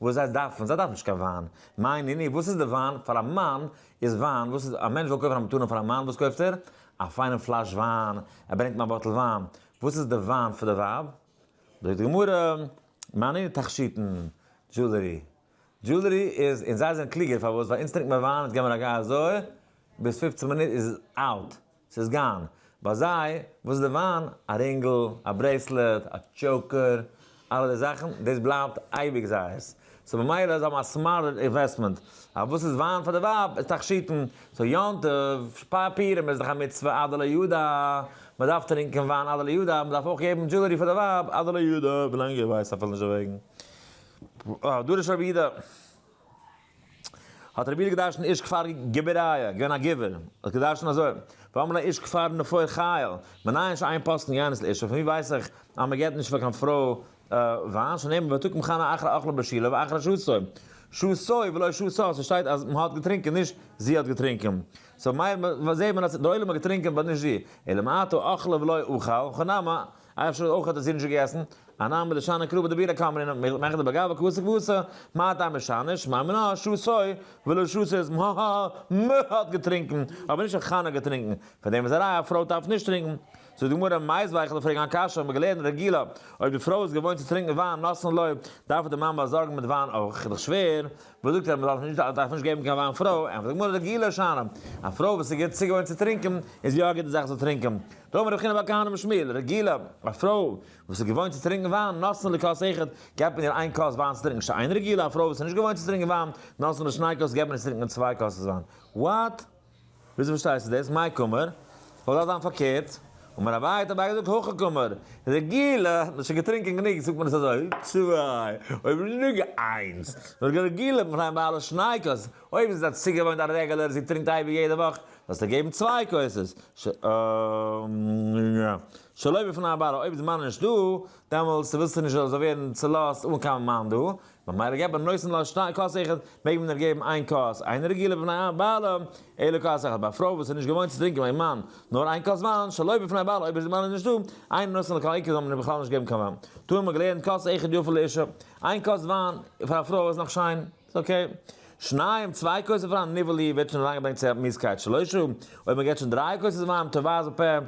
A: וואס זיי דארפן, זיי דארפן נישט קיין וויין, מיין אני, וואס איז די וויין, פאר א מאן איז וויין, וואס איז, א מענטש וויל קויפן א מתנה פאר א מאן, וואס קויפט ער, א פיינעם פלאש וויין, ער ברענגט אים א באטל וויין, וואס איז די וויין פאר די ווייב, זאגט די גמרא, מיין אני תכשיטן, דזשולערי, דזשולערי איז, און זיי זענען קלוגער, פארוואס, ווייל אונז טרינקט מען וויין, יעצט געב מיר א געי אזוי, ביז פופצן מינוט איז עס אלט, ס'איז גיין. ביי זיי, וואס איז די וויין? א רינגל, א ברעיסלעט, א טשאוקער, אלע די זאכן, דאס בלייבט אייביג זייערס. סאו במילא זיי האבן א סמארט אינוועסטמענט. אבער וואס איז וויין פאר די ווייב איז תכשיטן. סאו יום טוב, שפאר פירעם איז דאך א מצוה עד דלא ידע. מ'דארף טרינקען וויין עד דלא ידע, מ'דארף אויך געבן דזשולערי פאר די ווייב עד דלא ידע, ווילאנג איך ווייס אפילו נישט דערוועגן. אה, דא ר' שרבידא. האט רבי איד געדרשנט איש כפר גבעריה, געווען א גבער, האט געדרשנט אזוי, ואמר לה איש כפר נפוה חיל, מנין ש איין פסקן יענס לאישה, פון ווי ווייס איך אז מען געבט נישט פאר קיין פרוי וויין, שנאמר ותקום חנה אחרי אכלה בשילה ואחרי שסוי, שסוי ולא שסה, ס'שטייט אז מ'האט געטרינקען נישט זי האט געטרינקען, סאו מייל זעהט מען אז דער עולם האט געטרינקען באט נישט זי, אלא מאתו אכלה ולא אכל, וכן נמי. אייער שול אויך האט דאס אידישע געגעסן, א נאמען מיט לשנה קרובה דבינא קאמרינא, מעגליך מאכן די באגאבא כבשה כבשה, מה הטעם משנה, שמע מינה, שסוי, ולא שסוי איז מהא, מ ה האט געטרינקן, אבער נישט האט חנה געטרינקן, פאר דעם איז א ראיה א פרוי דארף נישט טרינקן. זאגט די גמרא, מייז ווייכעלע פרעגן א קשיא, האט מען געלערנט רגילה, אויב די פרוי איז געוואוינט צו טרינקן וויין נאסן לויב, דארף די מאמע באזארגן מיט וויין אויך, איז דאך שווער, וואס זאגט ער, מען דארף נישט געבן קיין וויין פרוי, ענטפערט די גמרא רגילה שנא, א פרוי וואס איז גוט צוגעוואוינט צו טרינקן, איז יא גוט די זאך זאל טרינקן. טוב רבי חנא בר כהנא בן שמואל, רגילה, א פרוי וואס איז געוואוינט צו טרינקען וויין, נתנו לכוס אחד, געבט מען איר איין כוס וויין צו טרינקען, שאין רגילה, א פרוי וואס איז נישט געוואוינט צו טרינקען וויין, נתנו לשני כוס, געבט מען איר צו טרינקען צוויי כוסות וויין. וואט? וויאזוי פארשטייסטו דאס? מאי קאמר? זאל דאך זיין פארקערט. אמר אביי, האט אביי געזאגט, הכא קאמר, רגילה, מען האט שוין געטרינקען גענוג, זאגט מען עס אזוי, צוויי, אויב נישט גענוג איינס, נאר רגילה, מ'פלעגט מיין ביי אלע שני כוסות, אויב איז זיי צוגעוואוינט א רעגעלער זי טרינקט אייביג יעדע וואך, זאלסטו געבן צוויי כוסות, שלא בפני הבעל, אויב איז מאן נישט דא, דעמאלטס ווילסטו נישט זאל זיי ווערן צולאזט אן קיין מאן דא, ממילא געב א נושא לש שתי כוסות, מעג מען איר געבן איין כוס, איין רגילה בפני הבעל, אלא כוס אחת, ביי א פרוי וואס איז נישט געוואוינט צו טרינקען ביים מאן נאר איין כוס וויין, שלא בפני הבעל, אויב איז די מאן איז נישט דא, אינו נושא לכל עיקר זאל מען איר בכלל נישט געבן קיין וויין, טאמער מען האט געלערנט כוס אחת יפה לאישה, איין כוס וויין פאר א פרוי איז נאך שיין. אקעי. שניים, צוויי כוסות וויין, ניבול אי ווערט שוין אריינגעברענגט צו מיעוט קייט שלושה, אויב מען געט שוין דריי כוסות וויין, טוואיס בפה,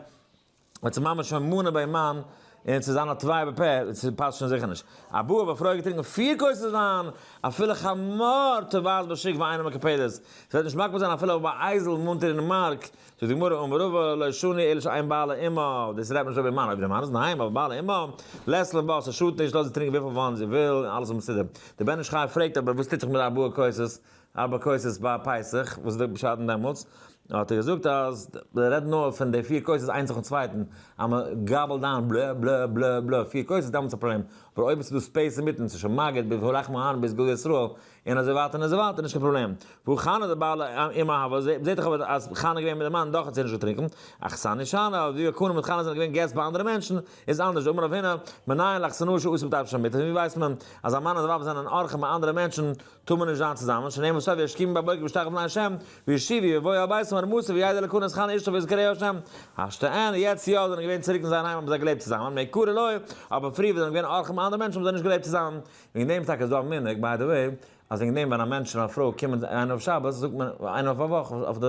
A: ווען ס'איז ממש שוין מנה ביי מן, און ס'איז אן א טוואי בפה, ס'פאסט שוין זיכער נישט. א בעה ב פרוי האט געטרינקן פיר כוסות וויין, אפילו חמור טוואיס בשיק ואינו מקפיד עס, ס'וועט נישט מקפיד זיין אפילו אויב א אייזל מונטער אין מארק זאגט די גמרא אמר רבא לא שני אלא שאין בעל אמו, דאס רעדט נישט אויב די מאן, אויב די מאן איז אין היים, אבער בעל אמו, לעסל און וואסער שאדט נישט, לאז זי טרינקען וויפיל וויין זי וויל, און אלעס איז מסודר. דער בן איש חי פרעגט אבער וואס טוט זיך מיט די ארבעה כוסות, ארבע כוסות ביי פסח, וואס איז די פשט דעמאלטס, האט ער געזאגט אז מען רעדט נאר פון די פיר כוסות איינס נאכן צווייטן, אז מען גאבלט דיין בלע בלע בלע בלע פיר כוסות דעמאלטס איז א פראבלעם, אבער אויב עס איז דא ספעיס אינמיטן, ס'איז שוין מגיד ביז הלחם העני ביז גדולי ישראל, און אזוי ווייטער און אזוי ווייטער נישט קיין פראבלעם. והוא חנה די בעל אים אהבה, מ'זעט דאך אבער אז חנה געווען מיט די מאן דאך האט זי נישט געטרינקען, אכסניא שנא, אבער ווי הקנה מיט חנה זענען געווען געסט ביי אנדערע מענטשען, איז אנדערש, אמר רב הונא, מנין לך שנאה שאסור בטייפ שמיטה, פון ווי ווייסט מען אז א מאן און זיין ווייב זענען אורחים ביי אנדערע מענטשען טאר מען נישט זיין צוזאמען, שנאמר סוף וישכימו בבוקר וישתחוו לפני השם, וישיבי ויבואו אל ביתו אמר מוסף וידע לקנא את חנה אשתו ויזכרה השם, השתאן, יעצט יא זענען געווען צוריק אין זייער היים האבן זיי געלעבט צוזאמען, מעיקרא לא, אבער פריער וואס זיי זענען געווען אורחים ביי אנדערע מענטשען האבן זיי נישט געלעבט צוזאמען, וועגן דעם טאקע איז דא א מנהג, ביי די וועי, אז וועגן דעם ווען א מענטש און א פרוי קומען איינער אויף שבת זאגט מען, איינער אויף א וואך אויף די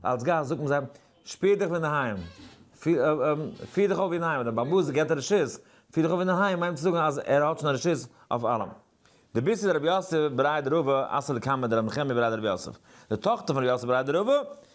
A: אלץ גאסט זאגט מען זיי, שפיר דיך ווי אינדערהיים, פיר דיך אויף ווי אינדערהיים, דער בעל הבית האט געבט רשות, פיר דיך אויף ווי אינדערהיים מיינט צו זאגן אז ער האט שוין רשות אויף אלעם. די בי ס איז רבי יוסף בריידער אב ע אסדר קאמער די רבי נחמיה בריידער רבי יוסף די טאכטער פון רבי יוסף בריידער אב ע.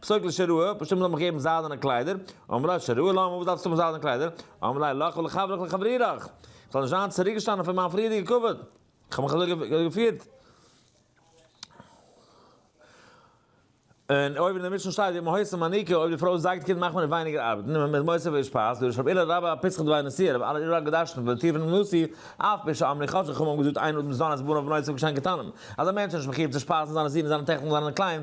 A: פסוק לשרוע, פושעים זאלן מיך געבן זיידענע קליידער, אמר לה שרוע למה, וואס דארפסטו מיך זיידענע קליידער? אמר ליה לך ולחברך ולחברירך, איך זאל נישט זיין צוריקגעשטאנען פון מיין פריערדיגע כבוד, איך האב מיך אזוי געפירט. און אויבן אין די משנה שטייט ווי מהות מניקה, אויב די פרוי זייגט קינד מאכט מען איר ווייניגער ארבעטן, און מען איז מוסיף איר שפייז, דורש רב אילא רבה פסחא דבי נשיא, רב אילא רבה האט געדרשנט פון די טיר פונעם נשיא, אף פי שאמרי חז ל חכמים האבן געזאגט איין אדם זיין את בניו ובנות את בנו כבן קטנים, אז א מענטש איז נישט מחיוב צו שפייזן זיינע זין און זיינע טעכטער און זיינע קליין,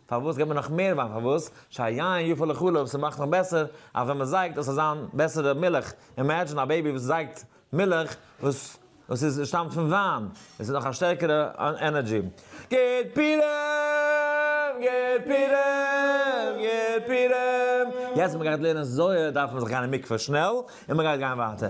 A: פארוואס געבן נאך מער וויין פארוואס שהיין יפה לחלב ס'מאכט נאך בעסער אז ווען מ'זייגט עס זאל זיין בעסערע מילך אימעדזשין א בעבי וואס זייגט מילך וואס וואס איז שטאמט פון וויין עס איז נאך א שטערקערע ענערדזשי גיט פירעם גיט פירעם גיט פירעם יעצט מ'גייט לערנען זוהר דארף מען זיך גיין אין מקווה שנעל און מ'גייט גיין ווייטער.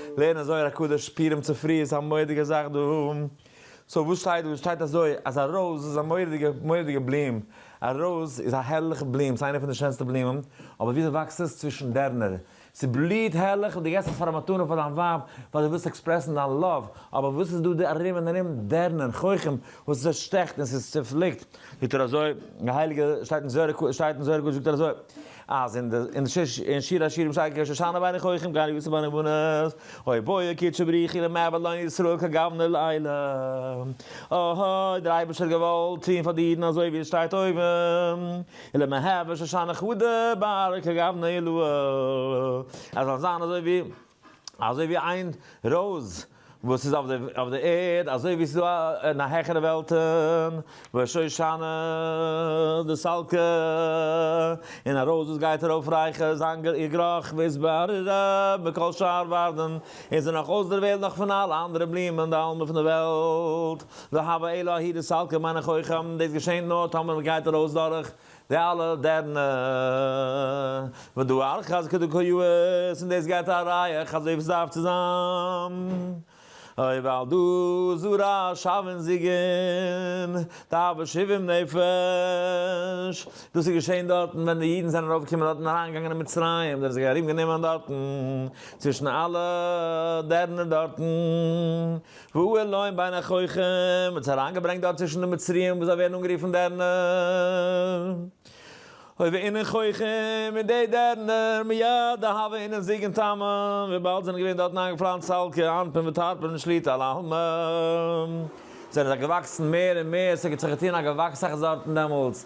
A: לערנען זוהר הקדוש פורים צופרי איז א מורא'דיגע זאך דא, סאו וואס שטייט דא? עס שטייט אזוי אז א רויז איז א מורא'דיגע מורא'דיגע בלום, א רויז איז א הערליכע בלום, ס'איינע פון די שענסטע בלומען, אבער וויאזוי וואקסט עס? צווישן דערנער, ס'בליהט הערליך און דו געסט עס פאר א מתנה פאר דיין ווייב ווייל דו ווילסט עקספרעסן דיין לאוו, אבער וואס איז דא די ארום און ארום? דערנער, חוחים, וואס עס שטעכט און ס'איז צופליקט. זאגט ער אזוי, די הייליגע, שטייט אין זוהר הק' שטייט אין זוהר הק' זאגט ער אזוי, אז אין די אין די אין שיר השירים שטייט כי שושנה בני חוחים גר יוסף בני בנות הוי בויע קדשו בריחי למעבד לא ישראל כגוונר לילה אההה דער אייבערשטער האט געוואלט טוהן פאר די אידן אזוי ווי עס שטייט אויבן אלא מהוה שושנה חדה בערה כגוונר לאה אז זאל זיין אזוי ווי אזוי ווי איין ראוז וואס איז אויף די ערד, אזוי ווי ס'איז דא אין א העכערע וועלטען, וואו שושנה די סלקע, און א ראוז וואס גייט ארויף רייכע זיין איר גראך וואו איז בארירער מכל שאר ווערדען, און איז נאך אויסדערוועלט נאך פון אלע אנדערע בלומען די אלמע פון די וועלט, והוה אלא היא די סלקע מיין איך אויך, דאס געשענט נאר טאמער מ'גייט ארויס דורך די אלע דערנע ודו ארכה אז כדו כה יאות און דאס געבט א רייעך אזוי ווי סדארף צו זיין אוי ווייל דא זרע שווין זיגען תאוה שבעים נפש דאס איז געשען דארטן ווען די אידן זענען ארויף געקומען דארטן אריין געגאנגען אין מצרים זענען זיי ארום גענומען דארטן צווישן אלע דערנער דארטן. והוא אלוהים בין החוכים, מען האט זיך אריינגעברענגט דארט צווישן די מצריים וואס זיי ווערן אנגערופן דערנער, הוי ואינן חוכים, און די דערנער, מיד אהבה אינן זיג און טעם, וויבאלד זענען געווען דארטן איינגעפלאנצט סלקע, אנפין וטארפין שליט א, לעלמה, זענען זיי געוואקסן מער און מער, ס'האט זיך געטון א געוואקס אויך דארטן דעמאלטס,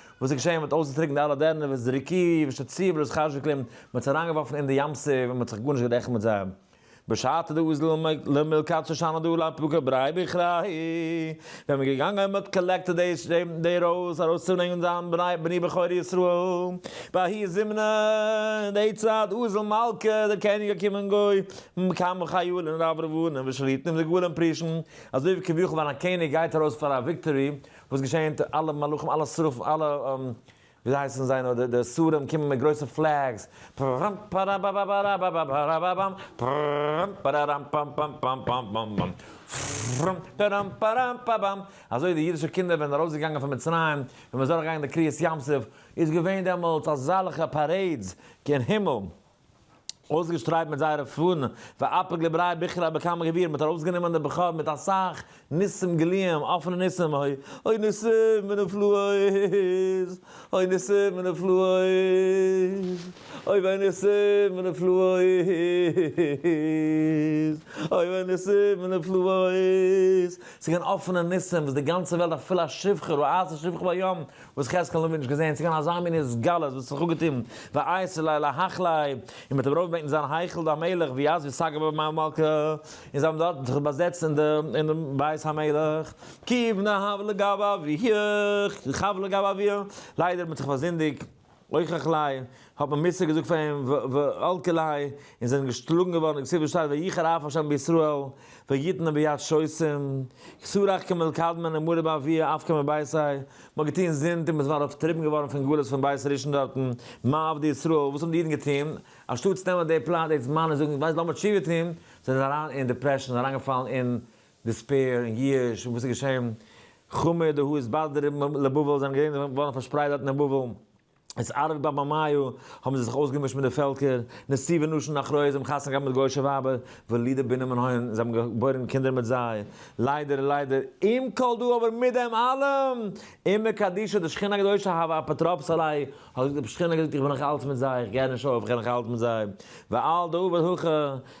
A: וואס איז געשען מ'האט אויסגעטריקנט אלע דערנער ווי זריקי ושציב לויז חשוקלים, מ'האט זיי אריינגעווארפן אין די ים סוף און מ'האט זיך גארנישט גערעכנט מיט זיי. בשעתו די אוז ל מלקט שושנה דא לן פוקר בראי בכראי, ווען מ'איז געגאנגען און מ'האט קאלעקטעד די די רויז ארויסצוברענגען זיין בני בני בכורי ישראל, בהאי זימנא אין די צייט אוז ל מלכה דער קעניג געקומען גוי כמה חיילין רב רבנים ושליטים דגולים פרישין, אזוי ווי כביכול ווען א קעניג גייט ארויס פאר א וויקטארי וואס געשענט? אלע מלאכים, אלע שרפים, אלע וויאזוי הייסן זיי נאר, די די שרים קומען מיט גרויסע פלעגס, פראמפ פאראבאבאבאראבאבאבאראבאבאם, פראמפ פאראראמפ פאמפ פאמפ פאמפ פאמפ פאמפ פאמפ, פראמפ פאראמפ פאראמפ פאבאם, אזוי די אידישע קינדער ווען ארויסגעגאנגען פון מצרים, ווען מ'איז אדורכגעגאנגען די קריעת ים סוף, איז געווען דעמאלטס אזאלכע פארעידס קיין הימל. אויסגעשטרייט מיט זייערע פאנען, ואפק לבראי בכרה בכמה גבירים, האט ארויסגענומען די בכור מיט אסאך ניסים גלויים, אפענע ניסים, אוי, אוי ניסים ונפלאות, אוי ניסים ונפלאות, אוי וויי ניסים ונפלאות, אוי וויי ניסים ונפלאות, ס'געווען אפענע ניסים וואס די גאנצע וועלט אפילו א שפחה רעה אעשה שפחה בים, וואס חזקאל האבן מיר נישט געזען, ס'געווען אזא מין התגלות וואס האט זיך אפגעטון, ויעש אלי להיכל ה', און מ'האט אים ארויף געבעטן אין זיין היכל די המלך, ווי אז ווי סגר בבית המלכה, און זיי האבן דארט זיך באזעצט אין די אין די בית המלך, כי בנה הבל לגב אביו, חבל לגב אביו, ליידער מ'האט זיך פארזינדיגט. אויך עכלי', האט מען מוסר געזאגט פאר אים, ו ו אלקעלי', און זענען געשלאגן געווארן, און כסדר שטייט, ויחר אף ה' בישראל, ויתן אים ביד ששים, כסרח כמל קדמן און מורי באבי אף כמל בייסי, מ'האט געטון זינד און מ'איז נאר אויפטריבן געווארן פון גלות פון בית ראשון דארטן, מה עבדי ישראל, וואס האבן די אידן געטון, אנשטאטס נעמען די פלאץ די זמן און זאגן ווייסט לאמיר תשובה טון, זענען זיי אריין אין דיפרעשאן, אריינגעפאלן אין דעספעיר און ייאוש און וואס איז געשען? חמי ד האו איז בד ר לבבל זענען געווען געווארן פארשפרייט דארט אין בבל, איז ארב בבא מאיו האבן זיי זיך אויסגעמישט מיט די פעלקער, נשיא ונשים אחראי זיי האבן חתונה געהאט מיט גוישע ווייבער, ולידה בנים און הון זיי האבן געבוירן קינדער מיט זיי, ליידער ליידער, עם כל דא אבער מיט דעם אלעם, אימא קדישא די שכינה הקדושה האב א אפוטרופוס עליי, האט געזאגט די שכינה געזאגט איך בין נאך אלץ מיט זיי איך געהער נישט אויף איך געהער נאך אלץ מיט זיי, ועל דא ועל הכא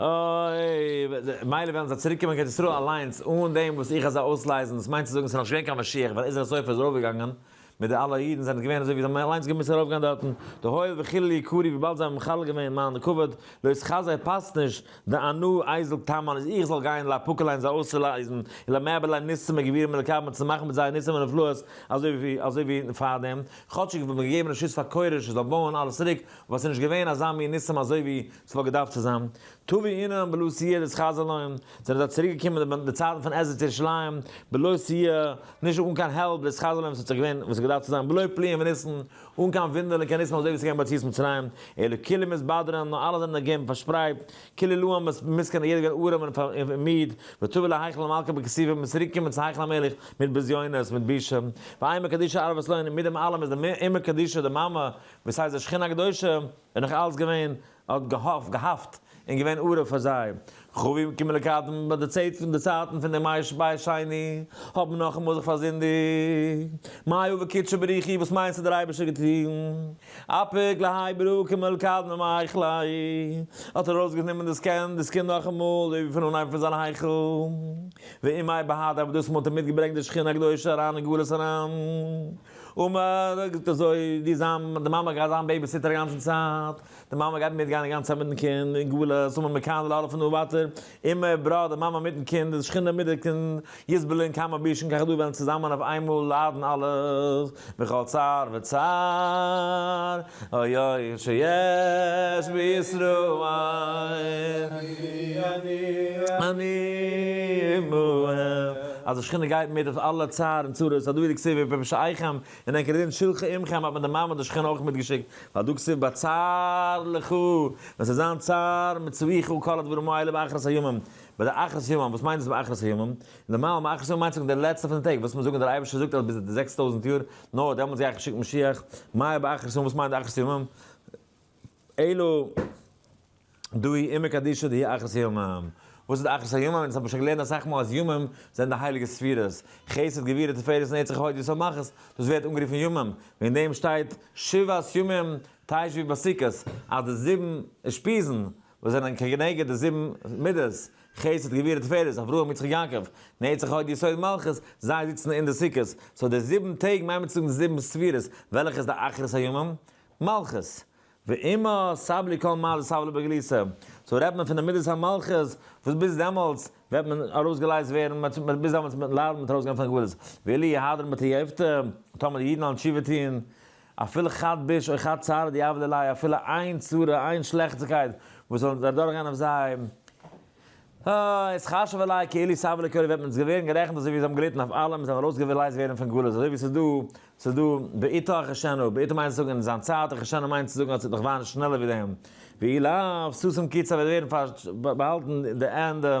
A: אוי, מילא וועלן זיי צוריק קומען קיין ארץ ישראל אליינס אן דעם וואס איך אזוי אויסלייזן, דאס מיינט צו זאגן עס איז נאך נישט געווען קיין משיח ווען עזרא סופר איז ארויפגעגאנגען מיט די אלע אידן זענען געווען אזוי ווי זיי האבן אליינס געמוזט ארויפגיין דארטן, די הואיל וחילול יקרי וויבאלד זיי האבן מחלל געווען מיין כבוד, לויט כזי פאסט נישט די אנא אייזל טעמא איז איך זאל גיין לאפוקעליין זיי אויסצולייזן און למעבערליין ניסים וגבירים ולקבל צו מאכן מיט זיי ניסים ונפלאות אזוי ווי פארדעם, כאטשיג איך בין געגעבן רשות פאר כורש עס זאל בויען אלעס צוריק, וואס איז נישט געווען אזא מין ניסים אזוי ווי ס'וואלט געדארפט צו זיין, טובי אינם בלא סייע דאס חז ל און זענען זיי צוריק געקומען די די צייטן פון עזרת ירושלים בלא סייע נישט אן קיין העלפ דאס חז ל און ס'האט זיך געווען וואס ס'האט געדארפט צו זיין בלא פליאים וניסן אן קיין וואונדערן און קיין ניסים אזוי ווי ס'איז געווען ביציאת מצרים אלא כולו מסתברין נאר אלע זענען נעגעבן פארשפרייט כולו לעם מסכן יעדער געווען ארעם און מיד ותבא להיכל המלכה בכסיפה מ'איז צוריק געקומען צו היכל המלך מיט בזיונות מיט בושה ואימה קדישא ארבע סלונים מיט דעם אלעם איז די אימה קדישא די מאמע וואס הייסט די שכינה הקדושה איז נאך אלץ געווען, האט געהאפט, געהאפט, און געווען ערוב פאר זיי. כ ו יום כיפור לקטן, ביי די צאת פון די צייטן פון דעם מאיר בית שני, האט מען נאכאמאל זיך פארזינדיגט. מה היה וקידשא בריך היא, וואס מיינסטו דער אייבערשטער האט געטון? אפיק להאי ברור כמעט לקטן ומאריך להאי, האט ער ארויסגענומען דאס קענד, דאס קינד נאכאמאל, אזוי ווי פון אנהייב פון זיין היכל. ואם מאי בהדי, אבער דאס מאל האט ער מיטגעברענגט די שכינה הקדושה אריין אין גלות אריין. אמער, זאגט אזוי, די זיין, די מאמע גייט זיין בעיביסיטער אגאנצן צייט, די מאמע גייט מיט גיין אגאנצן צייט מיטן קינד, אין גלות, אמער מכאן ולהבא פון דא ווייטער, אמער, בראך די מאמע מיטן קינד, די שכינה מיט די קינד, יסבלו אין כמה בישין ככה דא וועלן צוזאמען אויף איינמאל ליידן אלע, בכל צער וצער. אוי אוי שיש בישראל עניים עמהם אז די שכינה גייט מיט אויף אלע צער און צרות אדער ווי די כתובים ווי פשע אייכם און ענקער דין שילחה עמכם האט מען די מעמד השכינה אויך מיטגעשיקט ווייל דא כתוב בצר לך ווען ס'וועט זיין צער מצויכו כל הדברים האלה באחרית הימים ביי די אחרית ימים וואס מיינט דאס באחרית הימים נארמאל באחרית ימים מיינט ס'זאגן די לעצטע פון די טעג וואס מיר זאגן דער אייבערשטער זאגט אז ביז די זעקס טויזנט יאר נאר דעמאלטס גיי איך שיקן משיח, מאי באחרית יום, וואס מיינט אחרית ימים? אלא דאהי אימא קדישא דהי אחרית ימים, וואס איז די אחרית הימים? דאס האט מען שוין געלערנט אסאך מאל אז ימים זענען די הייליגע ספירות, חסד גבורה תפארת נצח הוד יסוד מלכות, דאס ווערט אנגערופן ימים, וועגן דעם שטייט שבעת ימים תשבי בסוכות, אז די זיבן אושפיזין, וואס זענען כנגד די זיבן מידות, חסד גבורה תפארת אברהם יצחק יעקב, נצח הוד יסוד מלכות, זיי זיצן אין די סוכות, סאו די זיבן טעג מיינט מען צו זאגן די זיבן ספירות, וועלכע איז די אחרית הימים? מלכות. ואימא סבלי כל מעלות סבלו בגליסה, סאו רעדט מען פון די מידת המלכות, וואס ביז דעמאלטס וועט מען ארויסגעלייזט ווערן, ביז דעמאלטס וועט מען ליידן מיט ארויסגיין פון הגבלות, ואילי יהדרן בתייובתא, טאמער די אידן וועלן תשובה טון, אפילו חד ביש או חד צרה די עוולה ליה, אפילו איין צרה, איין שלעכטיקייט וואס זאל אדורכגיין אויף זיי, אה, איז חשבה ליה כאילו סבא לקרוב וועט מען עס ווערן גערעכנט אזוי ווי זיי האבן געליטן אויף אלעם און זיי האבן ארויסגעלייזט ווערן פון גלות, אזוי ווי ס'איז דא, ס'איז דא, בעתו אחשנו, בעתו מיינט צו זאגן אין זיין צייט, אחשנו מיינט צו זאגן אז ס'וועט נאך וויין שנעלער ווי דעם, ואי לה, ששון קיצא וועט ווערן באהאלטן די ענדע.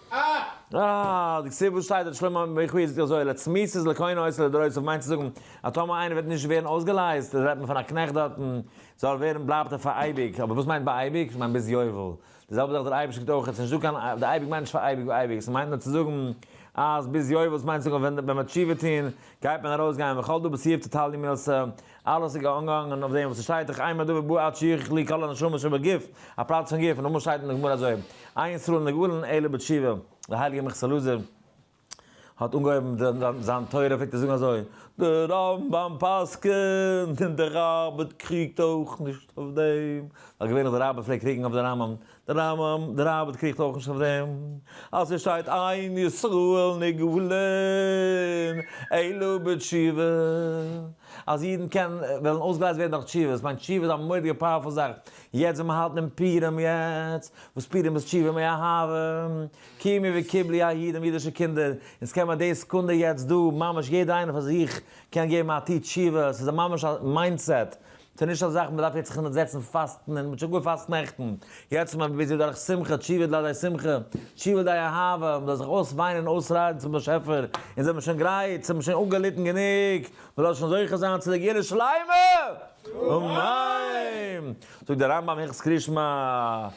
A: אה! די סיבה וואס שטייט דארט שלמה המלך ביחוס איז אזוי, לצמיתות איז לקונה עושה לדורות אויף מיינט צו זאגן אז טאמער איינער וועט נישט ווערן אויסגעלייזט רעדט מען פון א קנעכט דארטן זאל ווערן בלייבט ער פאר אייביג אבער וואס מיינט ביי אייביג? איך מיין ביז יובל די זעלבע זאך דער אייבערשטער קוקט אויך עס איז נישט דא קיין די אייביג מיינט נישט פאר אייביג אייביג עס מיינט נאר צו זאגן אז ביז יובל עס מיינט צו זאגן ווען מען וועט תשובה טון גייט מען ארויס גיין וכל דו בסיעף תתעלמי מעשה אלעס איז געאנגעהאנגען אויף דעם וואס עס שטייט איך עיין בדבר בא עד שיוכח לי כל הנשמות שבגוף, א פלאץ פון גוף, נאכדעם שטייט אין די גמרא אזוי, אין ישראל נגאלין אלא בתשובה, דער הייליגער מכסא לוזי האט אנגעהויבן זיין תורה פלעגט ער זאגן אזוי, דער רמב ם פסק'נט און דער ראב ד קריגט אויך נישט אויף דעם, ווייל געווענליך דער ראב ד פלעגט קריגן אויף דער רמב ם, די רמב ם, די ראבד ע קריגט אויך נישט אויף דעם, אז ס'איז שטייט אין ישראל נגאלין אלא בתשובה, אז אידן קענען, וועלן אויסגעלייזט ווערן דורך תשובה, ס'מיינט תשובה איז א מורא'דיגע פאוערפול זאך, יעצט ווען מ'האלט דעם פורים יעצט, וואס פורים איז תשובה מאהבה, קימי וקיבלי הידים אידישע קינדער, אונז קען מען די סעקונדע יעצט דא ממש יעדער איינער פאר זיך קען געבן א טו תשובה, ס'איז א ממש א מיינדסעט, ס'איז נישט א זאך מ'דארף יעצט זיך אונטערזעצן פאסטן און מ'האט שוין גאר פאסט נעכטן, יעצט איז מען ביזי דורך שמחה, תשובה דלעדי שמחה, תשובה דלעדי אהבה, מ'זאל זיך אויסוויינען און אויסריידן צום באשעפער, אונז האבן שוין גרייט, ס'האבן שוין אפגעליטן גענוג, מ'זאל שוין זוכה זיין צו די גאולה שלימה! אמן! זאגט דער רמב ם הילכות קרישמע.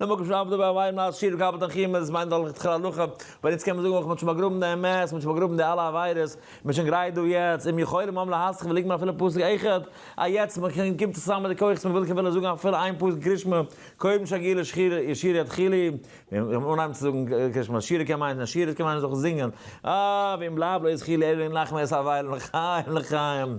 A: די מקום של עבדו באביו נאר שיר גאבד און חימום איז מיינט דאך לכתחילה הלכה, אבער יעצט קען מען זאגן אויך מען האט שוין באגראבן די אמת, מען האט שוין באגראבן די אלע עבירות, מען איז שוין גרייט דא יעצט, אם יכולים העם להסכים ולגמור אפילו פסוק אחד, א יעצט מען קען קומט צוזאמען מיט די כוחות מען וויל קען וועלן זאגן אפילו איין פסוק קרישמע, קודם שגר לשיר ישיר יתחילי, און אנהייבן צו זאגן קרישמע, שירה קען מיינען א שיר עס קען מיינען זיך זינגען, אה ואם בלב לא יזכי לי אלא לנחם את אביי לחיים לחיים.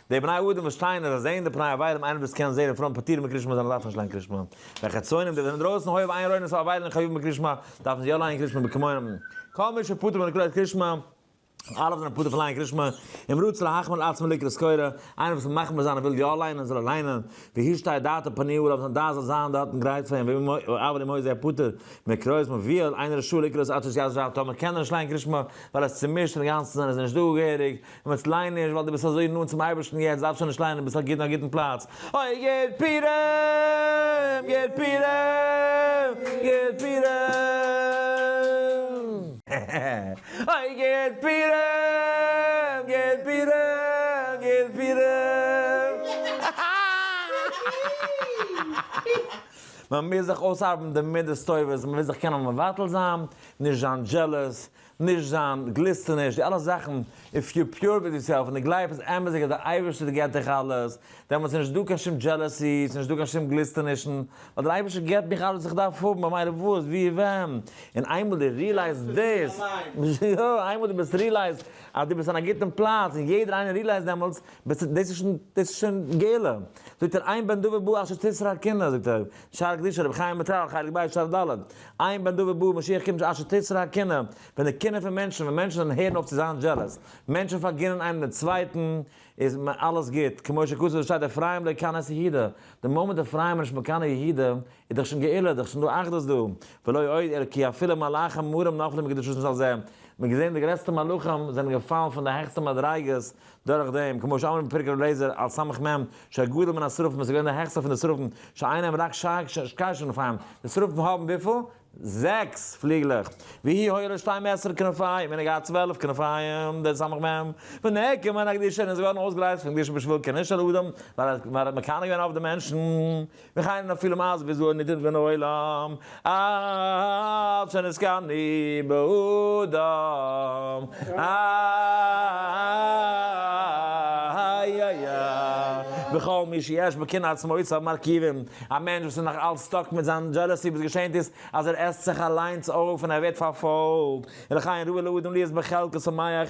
A: די בני אדם וואס שטייען אז זיי זעען די פני עברים איינער וואס קען זעהן אין פראנט פטורים מקרישמע זיין און דארפן נישט ליין קרישמע ווען חצונים די וואס זענען אינדרויסן הוי ועיין ראינו סא עברים חייבים בקרישמע דארפן זיי יא לייען קרישמע בכמוהם כל מי שפטור מן הקריאת קרישמע אלע וואס זענען פטור פון לייען קרישמע אם רוצה להחמיר על עצמו לקרא סקורא איינער וואס וויל מחמיר זיין און וויל יא ליינען זאל ער ליינען והשתא דאתא פניהו אליו זיין דעת זאל זיין דארטן גרייט פאר אים אבל אם הוי פטור מקריאות מוביל אינו רשאי לקרוא את אות יז ו טאמער קען ער נישט לייען קרישמע ווייל עס צומישט אינגאנצן און איז נישט דא געהעריג און ווען ס'ליינט נישט ווייל דו ביסט אזוי נאנט צום אייבערשטן יעצט דארפסט שוין נישט ליינען דו ביסט א גוט אין א גוטן פלאץ אוי גיט פירעם גיט פירעם גיט פירעם אוי גיט פירעם גיט פירעם גיט פירעם מען מוז זיך אויסארבעטן די מדות טובות מען וויל זיך קענען מבטל זיין נישט זיין דזשעלעס נישט זיין, גליסטו נישט, די אלע זאכן, איף יו פיור וויט יוסעלף און די גלייב אז אמת'דיגע די אייבערשטער די געט דיך אלעס, דעמאלטס איז נישט דא קיין שום דזשעלעסי, ס'איז נישט דא קיין שום גליסטענישן, ווייל דער אייבערשטער געט מיך אלעס וואס איך דארף האבן, במילא וואס, ווי, ווען, און איינמאל די ריעלייז דאס, יא, איינמאל די ביסט ריעלייז אז די ביסט אין א גוטן פלאץ, און יעדער איינער ריעלייז דעמאלטס, ביסטו, דאס איז שוין, דאס איז שוין גאולה, זאגט ער, עיין בן דוד בא אשר תסר הקינה, זאגט ער, שער קדושה רבי חיים וויטאל, חלק ב', שלב ד', עיין בנדא ובאר, משיח קומט בשעת שתצר הקנאה, ווען די קנאה פון מענטשן, ווען מענטשן זענען הערן אויף צו זיין דזשעלעס, מענטשן פארגינען איינעם דעם צווייטן, איז מ א אלעס גוט, כמו שכתוב ווי עס שטייט אפרים לא יקנא את יהודה, די מאמענט אפרים איז נישט מקנא יהודה, איז דאך שוין גאולה, איז דאך שוין דא אחדות דא, ולא עוד אלא כי אפילו מלאכים מרים נפלו מקדושתן של זה, מען האט געזען די גרעסטע מלאכים זענען געפאלן פון די העכסטע מדריגות, דורך דעם, כמו שאמרנו בפרק ר' אליעזר על סמך מ ש הגדול מן השרפים וואס איז געווען דער העכסטער פון די שרפים שאין להם רק שש כנפיים, די שרפים האבן וויפיל? זעקס פליגלעך, והי' היה לו שתים עשרה כנפיים, און ער האט געהאט צוועלף כנפיים, די סמך מ ונעקם מן הקדושה, און ער איז געווארן אויסגערייצט פון קדושה בשביל קענישט על אדם, ווייל ער האט מקנא געווען אויף די מענטשן. וכהנה אפילו מאז וזוהר נידון בין העולם עד שנזכרני בעודם איה וכל מי שיש בו קנאת סמוית אויף מרכיבים, א מענטש וואס איז נאך אלץ סטאק מיט זיין דזשעלעסי וואס געשענט איז אז ער עסט זיך אליינס אויף און ער ווערט פארפאלגט, ולכן ראוי לאדם להיות בחלקו שמח,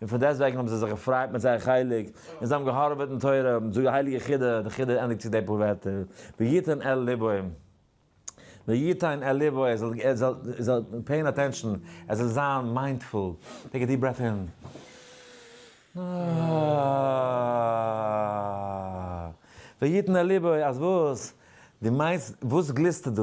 A: און פון דעסט וועגן האבן זיי זיך געפרייט מיט זייער חלק, און זיי האבן געהארעוועט אין תורה, האבן געזאגט די הייליגע חידה, די חידה ענדיגט זיך די פאר ווערטער, ויתן אל לבו, ויתן אל לבו, ער זאל, ער זאל, ער זאל פעיען אטענשאן, ער זאל זיין מיינדפול, טעיק א דיעפ ברעט אין, ויתן אל לבו, אז וואס? דו מיינסט, וואס גליסטו דא?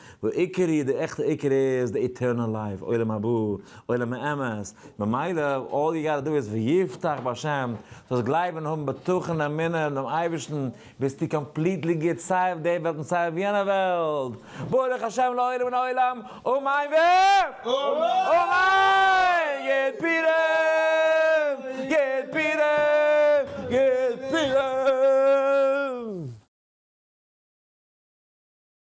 A: והעיקר היא, די עכטע עיקר איז די עטערנעל לייף, עולם הבא, עולם האמת, ממילא אלל יו גאטע דא איז ויבטח בהשם, זאלסט גלייבן און האבן בטחון אמונה אין דעם אייבערשטן, ביסטו קאמפליטלי גוט סיי אויף די וועלט און סיי אויף יענע וועלט, ברוך השם לעולם מן העולם, אמן ו אמן! גוט פורים! גוט פורים! גוט פורים!